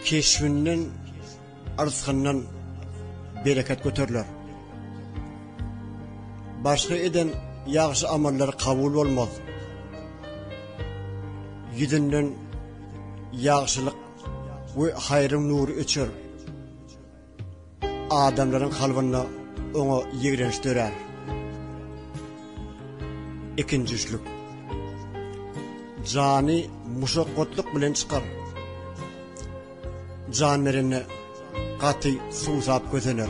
Speaker 1: Keşbinden, yrsgyndan bereket göteriler. Başga eden ýagşy amallary kabul bolmaz. Ýüzünden ýagşylyk we haýryň nury öçer. Adamlaryň kalbynda oňa ýigrenç dörär. Ikinji üçlük. Jany muşakgatlyk bilen çykar. Jan berende gaty suwsap kösener.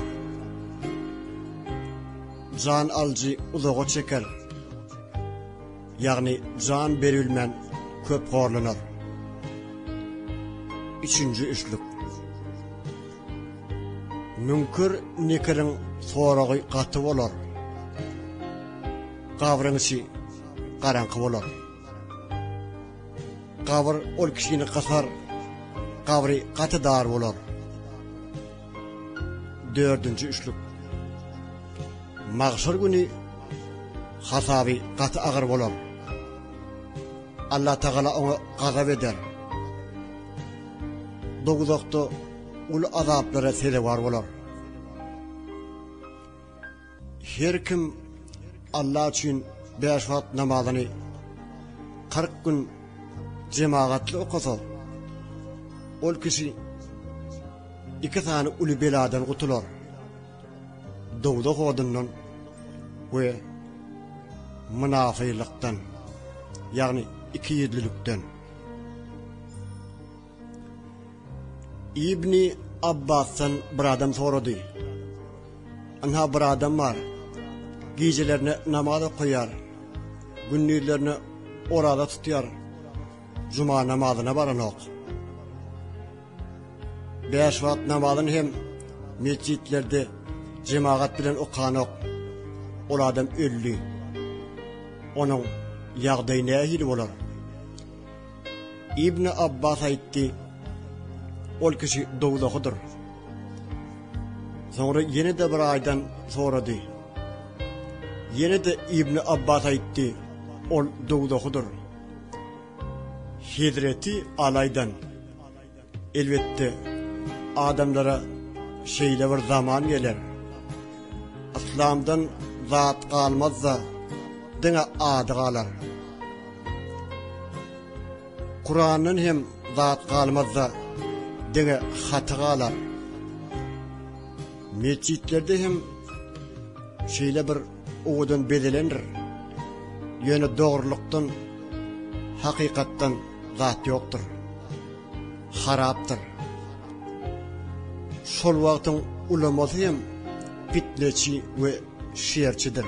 Speaker 1: Jan alyjy uzaga çeker. Ýagny jan berilmän köp horlanar. Üçünji üçlük. Müňkir Nekiriň soragy gaty bolar. Gabryň içi garaňky bolar. Gabyr ol kişini gysar. Gabry gaty dar bolar. Dördünji üçlük. Magşar güni hasaby gaty agyr bolar. Allah Tagala oňa gazap eder. Doguzakda uly azaplara sezewar bolar. Her kim Alla üçin bäş wagt namazyny kyrk gün jemagatly okasa, ol kişi iki sany uly beladan gutular, dowzah odundan we mynafylykdan, ýagny ikiýüzlülikden. Ibni Abbasdan bir adam sorady. Ynha bir adam bar. Gijelerine namaz okaýar. Gündizlerine oraza tutýar. Juma namazyna baranok. Bäş wagt namazyny hem metjitlerde jemagat bilen okanok. Ol adam öldi. Onuň ýagdaýy nähili bolar? Ibni Abbas aýtdy, Ol kişi dowzahydyr. Soňra ýene-de bir aýdan sorady. Ýene-de Ibni Abbas aýtdy, Ol dowzahydyr. Hezreti Alaýdan. Elbetde, adamlara şeýle bir zaman geler, yslamdan zat galmaz-da, diňe ady galar. Kurandan hem zat galmaz-da, diňe haty galar. Metjitlerde hem şeýle bir Owadan bezelendir. Ýöne dogrulykdan, hakykatdan zat ýokdur. Harapdyr. Şol wagtyň ulamasy hem pitneçi we şerçidir.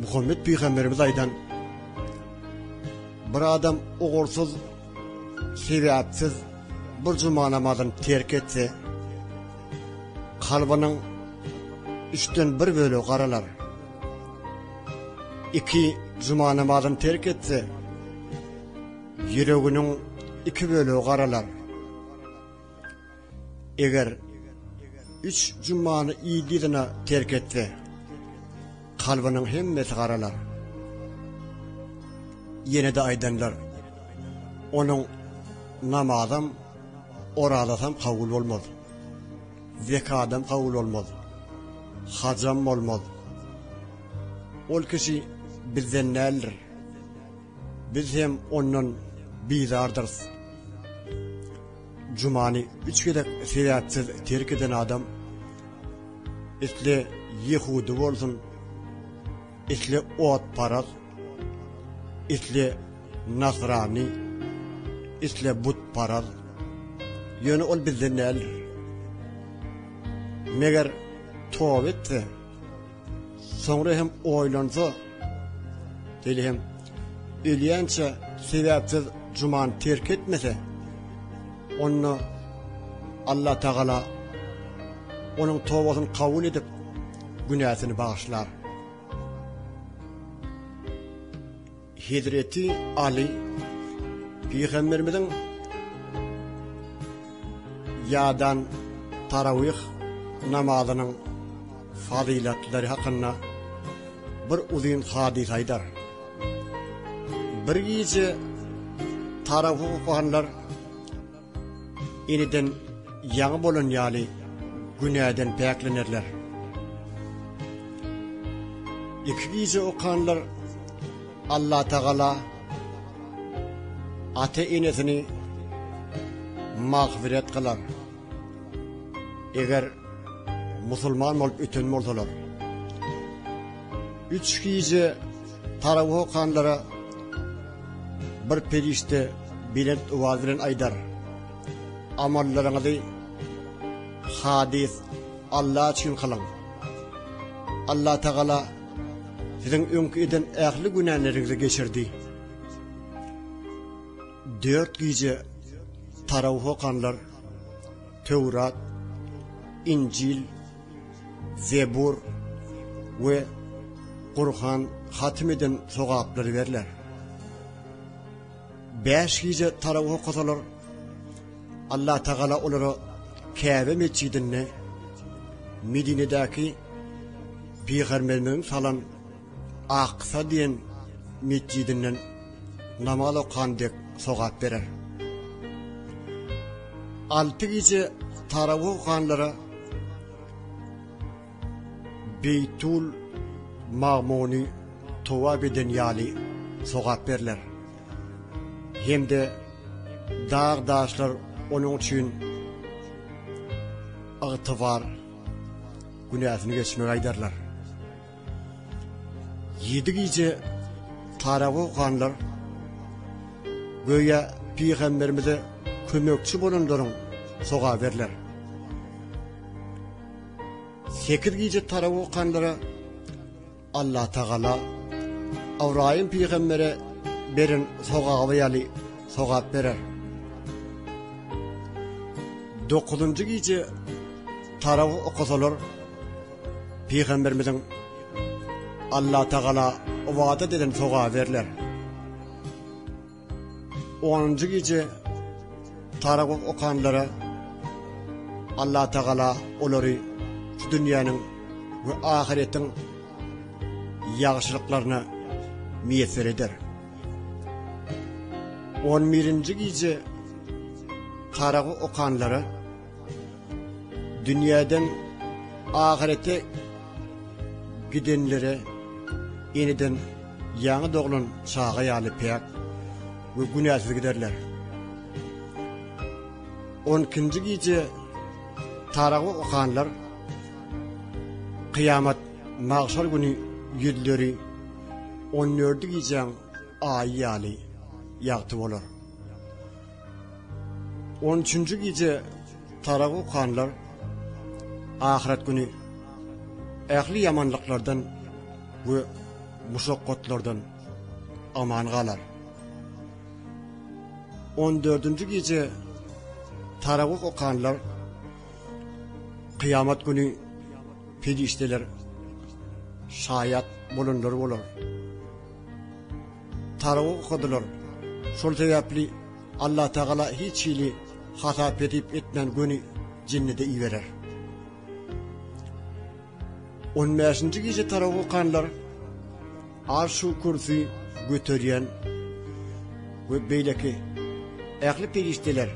Speaker 1: Muhammet pygamberimiz aýdan, Bir adam ugursyz, sebäpsiz bir juma namazyny terk etse, Kalbynyň üçden bir bölegi garalar. Iki juma namazyny terk etse, ýüreginiň iki bölegi garalar. Eger üç jumany ýygy-ýygyna terk etse, kalbynyň hemmesi garalar. Ýene-de aýdanlar, onuň namazam, Orazatam kabul bolmaz. Zekadam kabul bolmaz. Hajam bolmaz. Ol kişi bizden däldir. Biz hem ondan bizardyrys. Jumany üç gezek sebäpsiz terk eden adam isle ýehudy bolsun, isle otparaz, isle nasrany, isle butparaz, ýöne ol bizden däldir. Meger toba etse, soňra hem oýlansa, şeýle hem ölýänçä sebäpsiz jumany terk etmese, onda Allah Tagala onuň tobasyny kabul edip, günäsini bagyşlar. Hezreti Aly pygamberimiziň ýadan tarawih namazynyň fazylatlary hakynda bir uzyn hadysa aýdar. Bir gije tarawih okanlar Eneden ýaňy bolan ýaly günäden päklenerler. Iki gije okanlar Allah Tagala ata enesini magfiret kılar. Eger musulman bolup öten bolsalar. Üç gije Parawy okanlara bir perişde belent owaz bilen aýdar, Amallaryňyzy halys Alla üçin kylyň. Allatagala siziň öňki eden ähli günäleriňizi geçirdi. Dört gije Parawy okanlar Töwrat, Injil, Zebur we Gurhan hatym eden sogaplary berler. Bäş gije tarawih okasalar, Allah Tagala olara Käbe metjidinde Medinedäki Pygamberimiziň salan Aksa diýen metjidinden namaz okan dek sogap berer. Alty gije tarawih okanlara Beýtul Magmuny towap eden ýaly sogap berler. Hem-de dag-daşlar onuň üçin ygtybar günäsini geçmegi aýdarlar. Ýedi gije paragoh ganlar göýä pygamberimize kömekçi bolanlaryň soga berler. Sekiz gije paragoh ganlara Allah Tagala Awraýym pygambere beren sogaby ýaly sogap berer. Dokuzunjy gije taraw okasalar Pygamberimiziň Allatagala ybadat eden sogaby berler. Onunjy gije Taragum okanlara Allatagala olary şu dünýäniň we ahyretiň ýagşylyklaryna miýesser eder. On birinji gije Taragum okanlara Dünýäden ahyrete gidenlere eneden ýaňy doglan çaga ýaly päk we günäsiz giderler. 12-nji gije taragy okanlar kyýamat magşar güni ýüzleri 14-nji gijäň aýy ýaly ýagty bolar. On üçünji gije tarag okanlar ahyret güni ähli ýamanlyklardan we muşakgatlardan aman galar. On dördünji gije tarag okanlar kıyamet güni perişdeler şaýat bolanlar bolar. Tarawy okadylar. Şol sebäpli Allatagala hiç hili hasap-hesip etmän göni jinni-de iberer. On bäşinji gije tarawy okanlar Arş-u Kürsüi göterýän we beýleki ähli perişdeler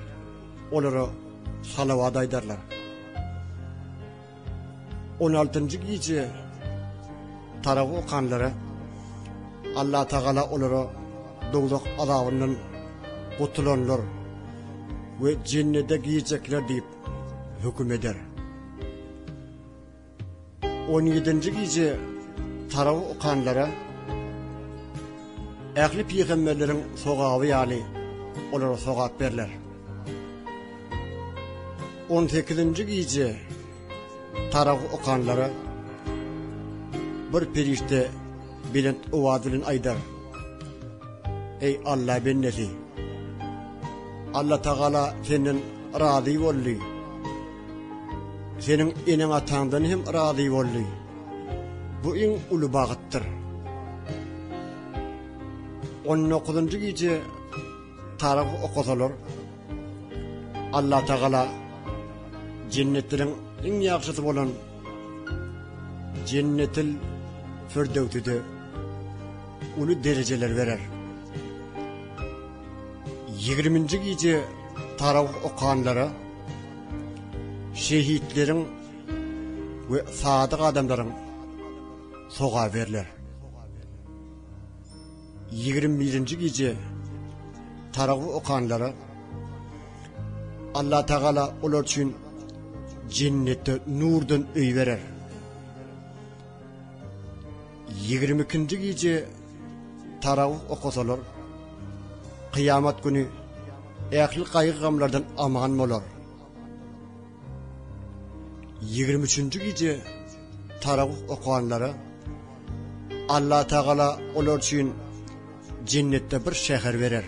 Speaker 1: olara salawat aýdarlar. On altynjy gije Taragy okanlara Allatagala olara dowzah azabyndan gutulanlar we Jennede girjekler diýip höküm eder. On ýedinji gije Taragy okanlara ähli pygamberleriň sogaby ýaly olara sogap berler. On sekizinji gije tarag okanlara bir perişde belent owaz bilen aýdar. Eý Alla bendesi! Alla Tagala senden razy boldy. Seniň eneň ataňdan hem razy boldy. Bu iň uly bagytdyr. On dokuzynjy gije Taryh okasalar Allah Tagala jennetleriň iň ýagşysy bolan Jennetil Firdöwside uly derejeler berer. 20-nji gije tarawih okanlara şehitleriň we sadyk adamlaryň soga berler. Ýigrimi birinji gije Taragy okanlara Allah Tagala olar üçin jennetde nurdan öý berer. Ýigrimi ikinji gije Taragy okasalar Kyýamat güni ähli gaýgy-gamlardan aman bolar. Ýigrimi üçünji gije taragwh okanlara Allatagala olar üçin jennetde bir şäher berer.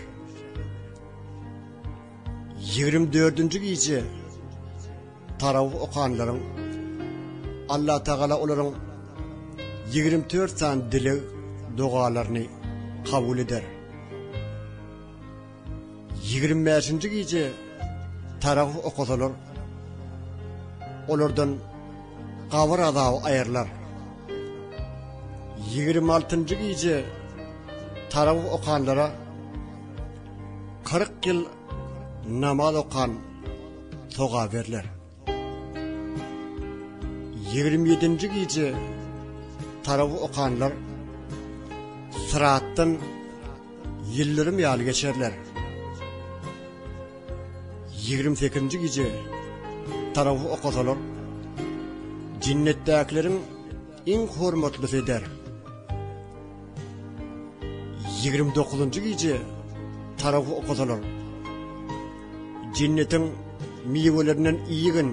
Speaker 1: Ýigrimi dördünji gije taragwh okanlaryň Allatagala olaryň ýigrimi dört sany dileg dogalaryny kabul eder. Ýigrimi bäşinji gije taragh okasalar, olardan gabyr azaby aýrylar. Ýigrimi altynjy gije taragh okanlara kyrk ýyl namaz okan sogap berler. Ýigrimi ýedinji gije tarawy okanlar syratdan ýyldyrym ýaly geçerler. Ýigrimi sekizinji gije tarawy okasalar jennetdäkileriň Iň hormatly peder! Ýigrimi dokuzynjy gije Taragy okasalar, Jennetiň miwelerinden iýgin,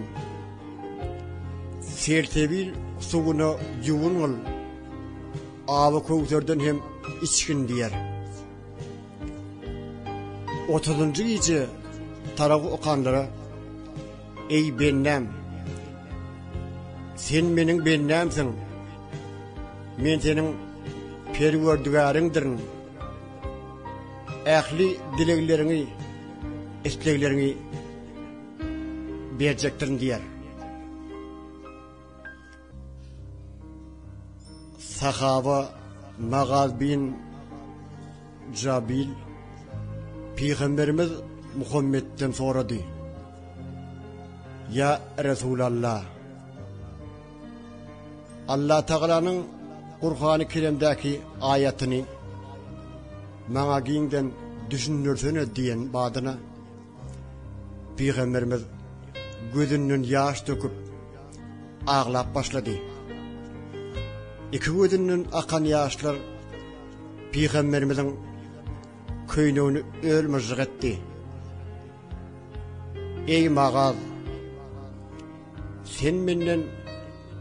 Speaker 1: Selsebil suwuna ýuwungyl, Awy Köwserden hem içgin diýer. Otuzynjy gije Taragy okanlara. Eý bendäm! Sen meniň bendämsiň. Men seniň Perwerdigäriňdirin. Ähli dilegleriňi, islegleriňi berjekdirin diýýär. Sahaba Magaz bin Jabil Pygamberimiz Muhammedden sorady. Ya Resulallah. Allah Taala'nyň Kur'an-ı Kerimdäki aýatyny maňa giňden düşündirsene diýen badyna Pygamberimiz gözünden ýaş döküp aglap başlady. Iki gözünden akan ýaşlar Pygamberimiziň köýnegini öl-myžžyk etdi. Eý Magaz! Sen menden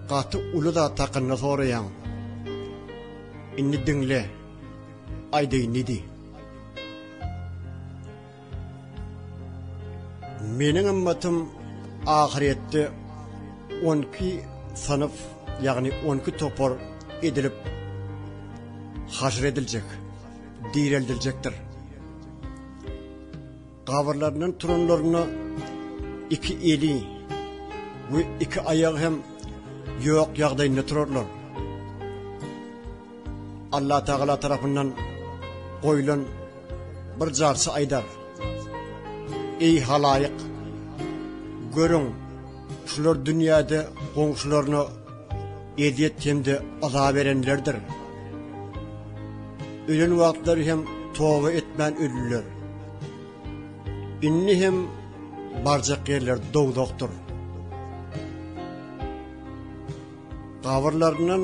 Speaker 1: gaty uly zat hakynda soraýaň. Indi diňle, aýdaýyn diýdi. Meniň ymmatym ahyretde on iki synf, ýagny on iki topar edilip haşr ediljek, direldiljekdir. Gabyrlaryndan turanlaryna iki eli we iki aýagy hem ýok ýagdaýynda turarlar. Allah Tagala tarapyndan goýlan bir jarçy aýdar. Eý halaýyk, görüň, şular dünýäde goňşularyna ezýet hem-de azap berenlerdir. Ölen wagtlary hem toba etmän ölüler. Indi hem barjak ýerler dowzakdyr. Gabyrlaryndan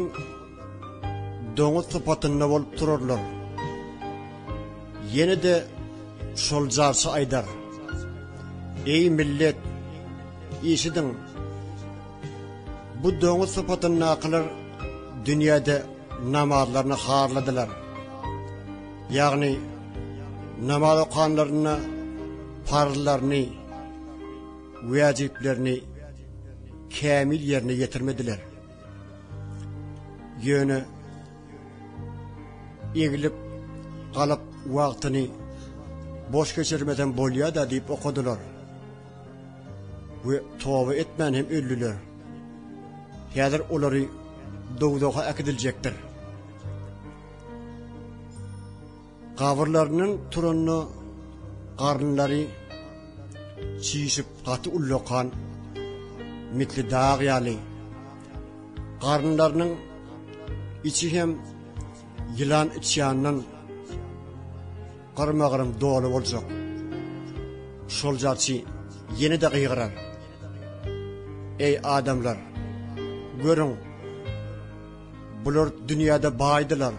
Speaker 1: Doňuz sypatynda bolup turarlar. Ýene-de şol jarçy aýdar. Eý millet, eşidiň! Bu doňuz sypatyndakylar dünýäde namazlaryny harladylar. Ýagny, namaz okanlarynda parzlaryny, wäjiplerini kämil ýerine ýetirmediler. Ýöne eglip galyp wagtyny boş geçirmeden bolýar da diýip okadylar. We toba etmän hem öldüler. Häzir olary dowzaha äkidiljekdir. Gabyrlarynyň turanyna garynlary çişip gaty ullakan mitli dag ýaly garynlarynyň içi hem ýylan içýandan gyrma-gyrym doly boljak. Şol jarçy ýene-de gygyrar. Eý adamlar, görüň! Bular dünýäde baýdylar.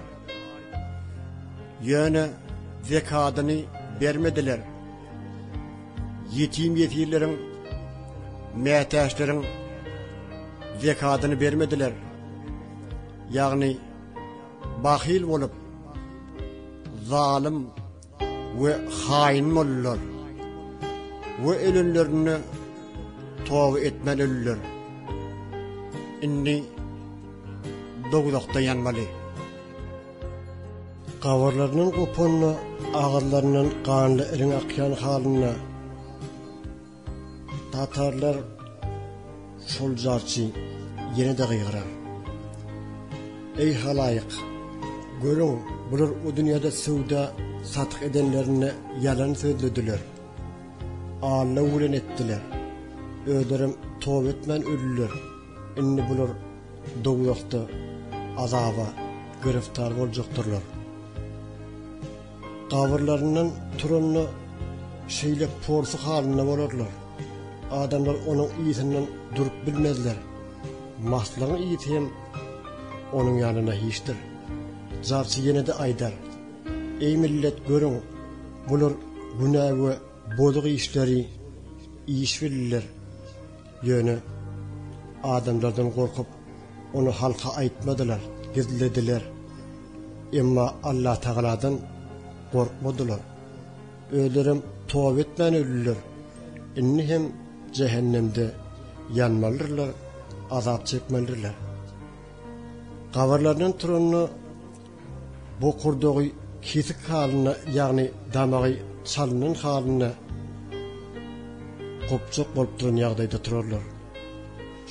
Speaker 1: Ýöne zekadyny bermediler. Ýetim-ýesirleriň, mätäçleriň zekadyny bermediler. Ýagny bahyl bolup, zalym we haýyn boldular we ölenlerinde toba etmän öldiler. Indi dowzahda ýanmaly. Gabarlarynyň gopanda, agyzlaryndan ganly iriň akýan halynda, Tatarlar şol jarçy ýene-de gygyrar. Eý halaýyk, görüň, bular o dünýäde söwda satyk edenlerinde ýalan sözlediler. Alla welen etdiler. Özlerem toba etmän öldiler. Indi bular dowzahda azaba giriftar boljaktyrlar. Gabyrlaryndan turanda şeýle porsy halynda bolarlar. Adamlar onuň yzyndan durup bilmezler. Maslagyň yzy hem onuň ýanynda hiçdir. Jarçy ýene-de aýdar, Eý millet, görüň, bular günä we bozuk işleri işbilliler. Ýöne adamlardan gorkup, ony halka aýtmadylar, gizlediler. Emma Allatagaladan gorkmadylar. Özlerem toba etmän öldiler. Indi hem jähennemde ýanmalydyrlar, azap çekmelidirler. Gabarlaryndan turanda Bokurdagy kesik halynda, ýagny damagy çalynan halynda gopjak bolup duran ýagdaýda turarlar.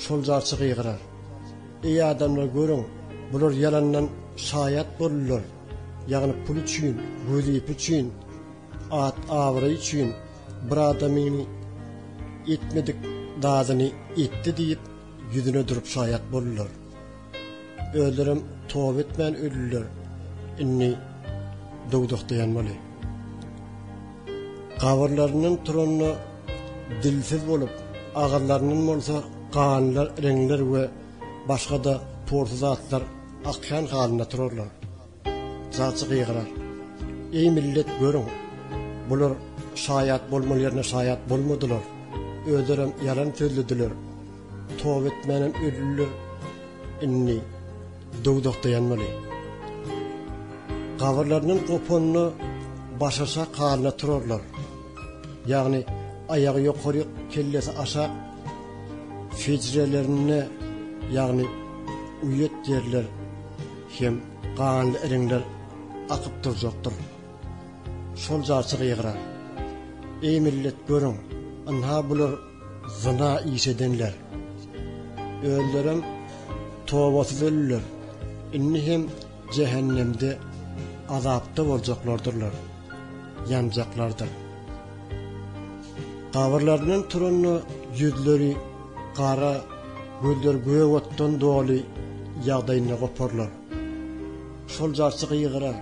Speaker 1: Şol jarçy gygyrar. Eý adamlar, görüň, bular ýalandan şaýat boldular, ýagny pul üçin, wezipe üçin, at-abraý üçin bir adamyň etmedik zadyny etdi diýip, ýüzüne durup şaýat boldular. Özlerem toba etmän öldiler. Indi döwdekdeýanmaly. Gabyrlaryndan turanda dilsiz bolup, agyzlaryndan bolsa ganly reňler we başga-da pursa zatlar akýan halynda turarlar. Jaçy gygyrar. Eý millet, görüň! Bular şaýat bolmaly ýerine şaýat bolmadylar. Özlerem ýalan sözlediler. Toba etmänem öldiler. Indi dowzahda ýanmaly. Gabyrlaryndan gopanda başaşak halynda turarlar. Ýagny aýagy ýokaryk, kellesi aşak, hüjrelerinde, ýagny uýat ýerler, Hem ganly iriňler akyp durjakdyr. Şol jarçy gygyrar. Eý millet, görüň, ynha bular zyna iş edenler. Özlerem tobasyz ölüler. Indi hem jähennemde azapda boljaklardyrlar. ýanjaklardyr. Gabyrlaryndan turanda ýüzleri gara, gözleri gök otdan doly ýagdaýynda goparlar. Şol jarçy gygyrar,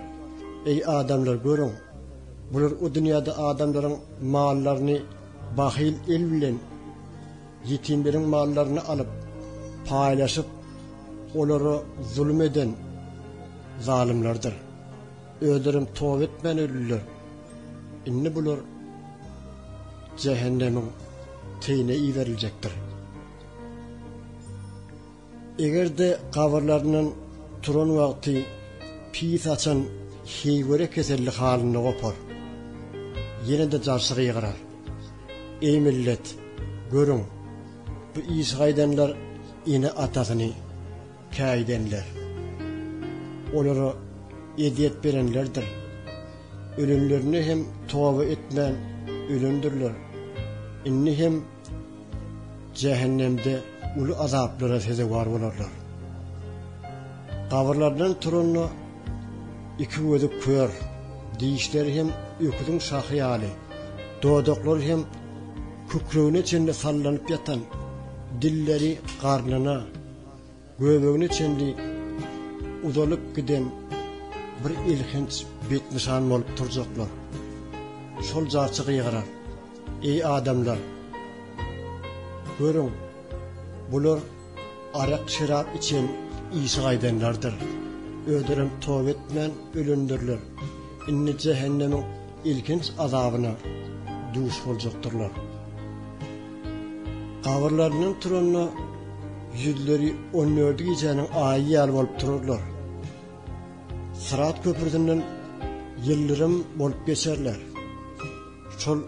Speaker 1: Eý, adamlar, görüň, bular o dünýäde adamlaryň mallaryny bahyl el bilen ýetimleriň mallaryny alyp, paýlaşyp, olara zulum eden zalymlardyr. Özlerem toba etmän öldiler. Indi bular jähennemiň teýine iberiljekdir. Eger-de gabyrlaryndan turan wagty pis açan heýwere keselli halynda gopar. Ýene-de jarçy gygyrar. Eý millet, görüň, bu işi gaýdanlar ene-atasyny, Käýidenler. Olara ezýet berenlerdir. Ölenlerine hem toba etmän ölendirler. Indi hem jähennemde uly azaplara sezewar bolarlar. Gabyrlaryndan turanda iki gözi kör, dişleri hem öküziň şahy ýaly, dodaklary hem kükregine çenli sallanyp ýatan, dilleri garnyna, Göbegine çenli uzalyp giden bir elhenç betnyşan bolup turjaklar. Şol jarçy gygyrar, Eý adamlar! Görüň, bular arak-şerap içen işi gaýdanlardyr. Özlerem toba etmän ölendirler. Indi jähennemiň ilkinç azabyna duş boljakdyrlar. Gabyrlaryndan turanda ýüzleri on dördi gijäniň aýy ýaly bolup turarlar. Syrat köprüsinden ýyldyrym bolup geçerler. Şol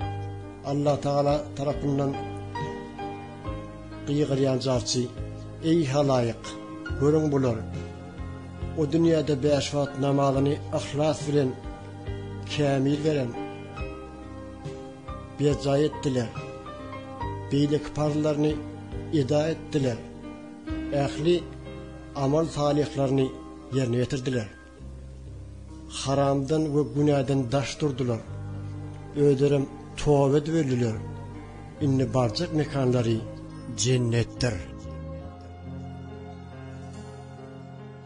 Speaker 1: Allatagala tarapyndan gygyrýan jarçy, Eý halaýyk, görüň bular, o dünýäde bäş wagt namazyny yhlas bilen Kämil berem berjaý etdiler. Beýleki parzlaryny eda etdiler. Ähli amal salyhlaryny ýerine ýetirdiler. Haramdan we günäden daş durdular. Özlerem toba edip öldüler. Indi barjak mekanlary jennetdir.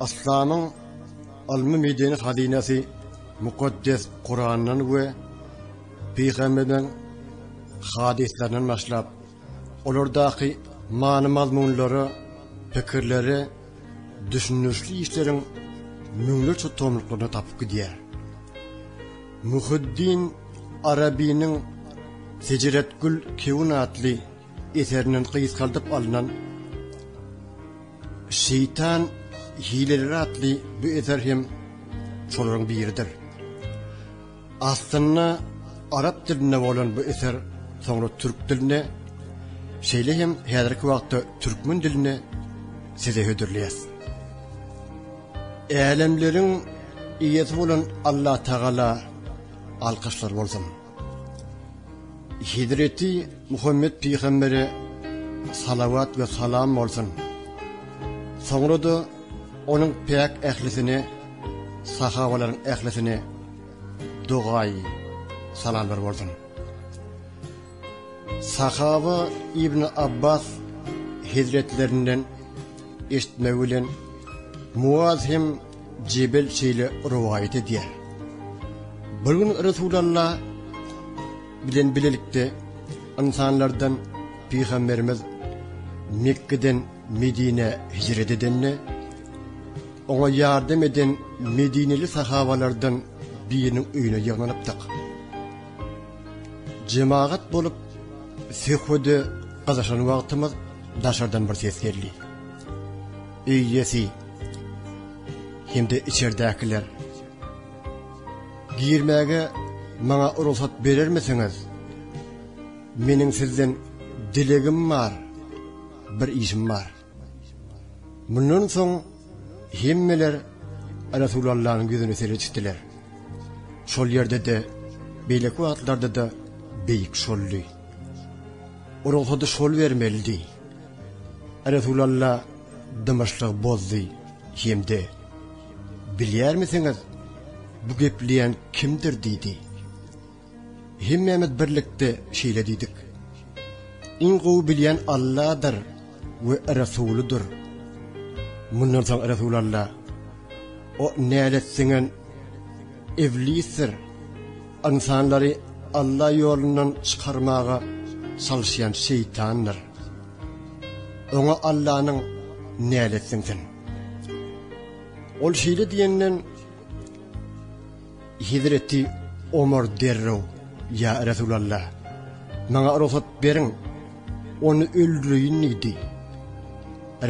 Speaker 1: Aslanyň ylmy-medeni hazynasy Mukaddes Kurandan we pygamberiň hadyslaryndan başlap, olardaky many-mazmunlara, pikirlere düşündirişli işleriň müňlerçe tomluklaryny tapyp gidýär. Muhyiddin Arabynyň Seceretgül Kewün atly eserinden gysgaldyp alnan Şeýtan hileleri atly bu eser hem şolaryň biridir. Aslynda arap dilinde bolan bu eser soňra türk diline, şeýle hem häzirki wagtda türkmen diline size hödürleýäs. Älemleriň Eýesi bolan Allatagala alkyşlar bolsun! Hezreti Muhammet pygambere salawat we salam bolsun. Soňra-da onuň päk ählisine, sahabalaryň ählisine dogaýy salamlar bolsun. Sahaba Ibn Abbas hezretlerinden eşitmegi bilen Muaz hem Jebel şeýle rowaýat edýär. Bir gün Resulalla bilen bilelikde ynsanlardan pygamberimiz Mekgeden Medinä hijret edende, oňa ýardam eden medineli sahabalardan biriniň öýüne ýygnanypdyk. Jemagat bolup söhbede gyzyşan wagtymyz daşardan bir ses geldi. Öý iýesi hem-de içerdäkiler. Girmäge maňa rugsat berermisiňiz? Meniň sizden dilegim bar, bir işim bar. Mundan soň hemmeler Resulallanyň ýüzüne seredişdiler. Şol ýerde-de, beýleki wagtlarda-da beýik şoldy. Rugsady şol bermelidi. Resulalla dymyşlygy bozdy hem-de, Bilýärmisiňiz, bu gepleýän kimdir? diýdi. Hemmämiz birlikde şeýle diýdik, Iň gowy bilýän Alladyr we Resulydyr. Mundan soň Resulalla, O nälet siňen iblisdir. Ynsanlary Alla ýolundan çykarmaga çalyşýan şeýtandyr. Oňa Allanyň näletsin sen. Ol şeýle diýenden, Hezreti Omar derrew, Ýa Resulallah, maňa rugsat beriň, ony öldüreýin diýdi.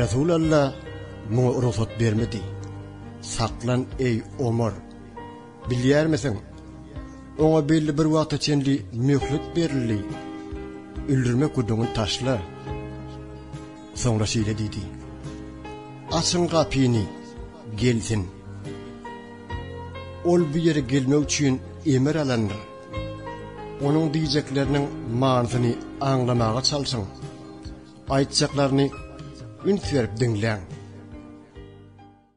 Speaker 1: Resulallah muňa rugsat bermedi. Saklan, eý, Omar! Bilýärmiseň, oňa belli bir wagta çenli möhlet berildi. Öldürmek gürrüňini taşla. Soňra şeýle diýdi, Açyň gapyny, gelsin. Ol bu ýere gelmek üçin emir alandyr. Onuň diýjekleriniň manysyny aňlamaga çalşyň. Aýtjaklaryny üns berip diňläň.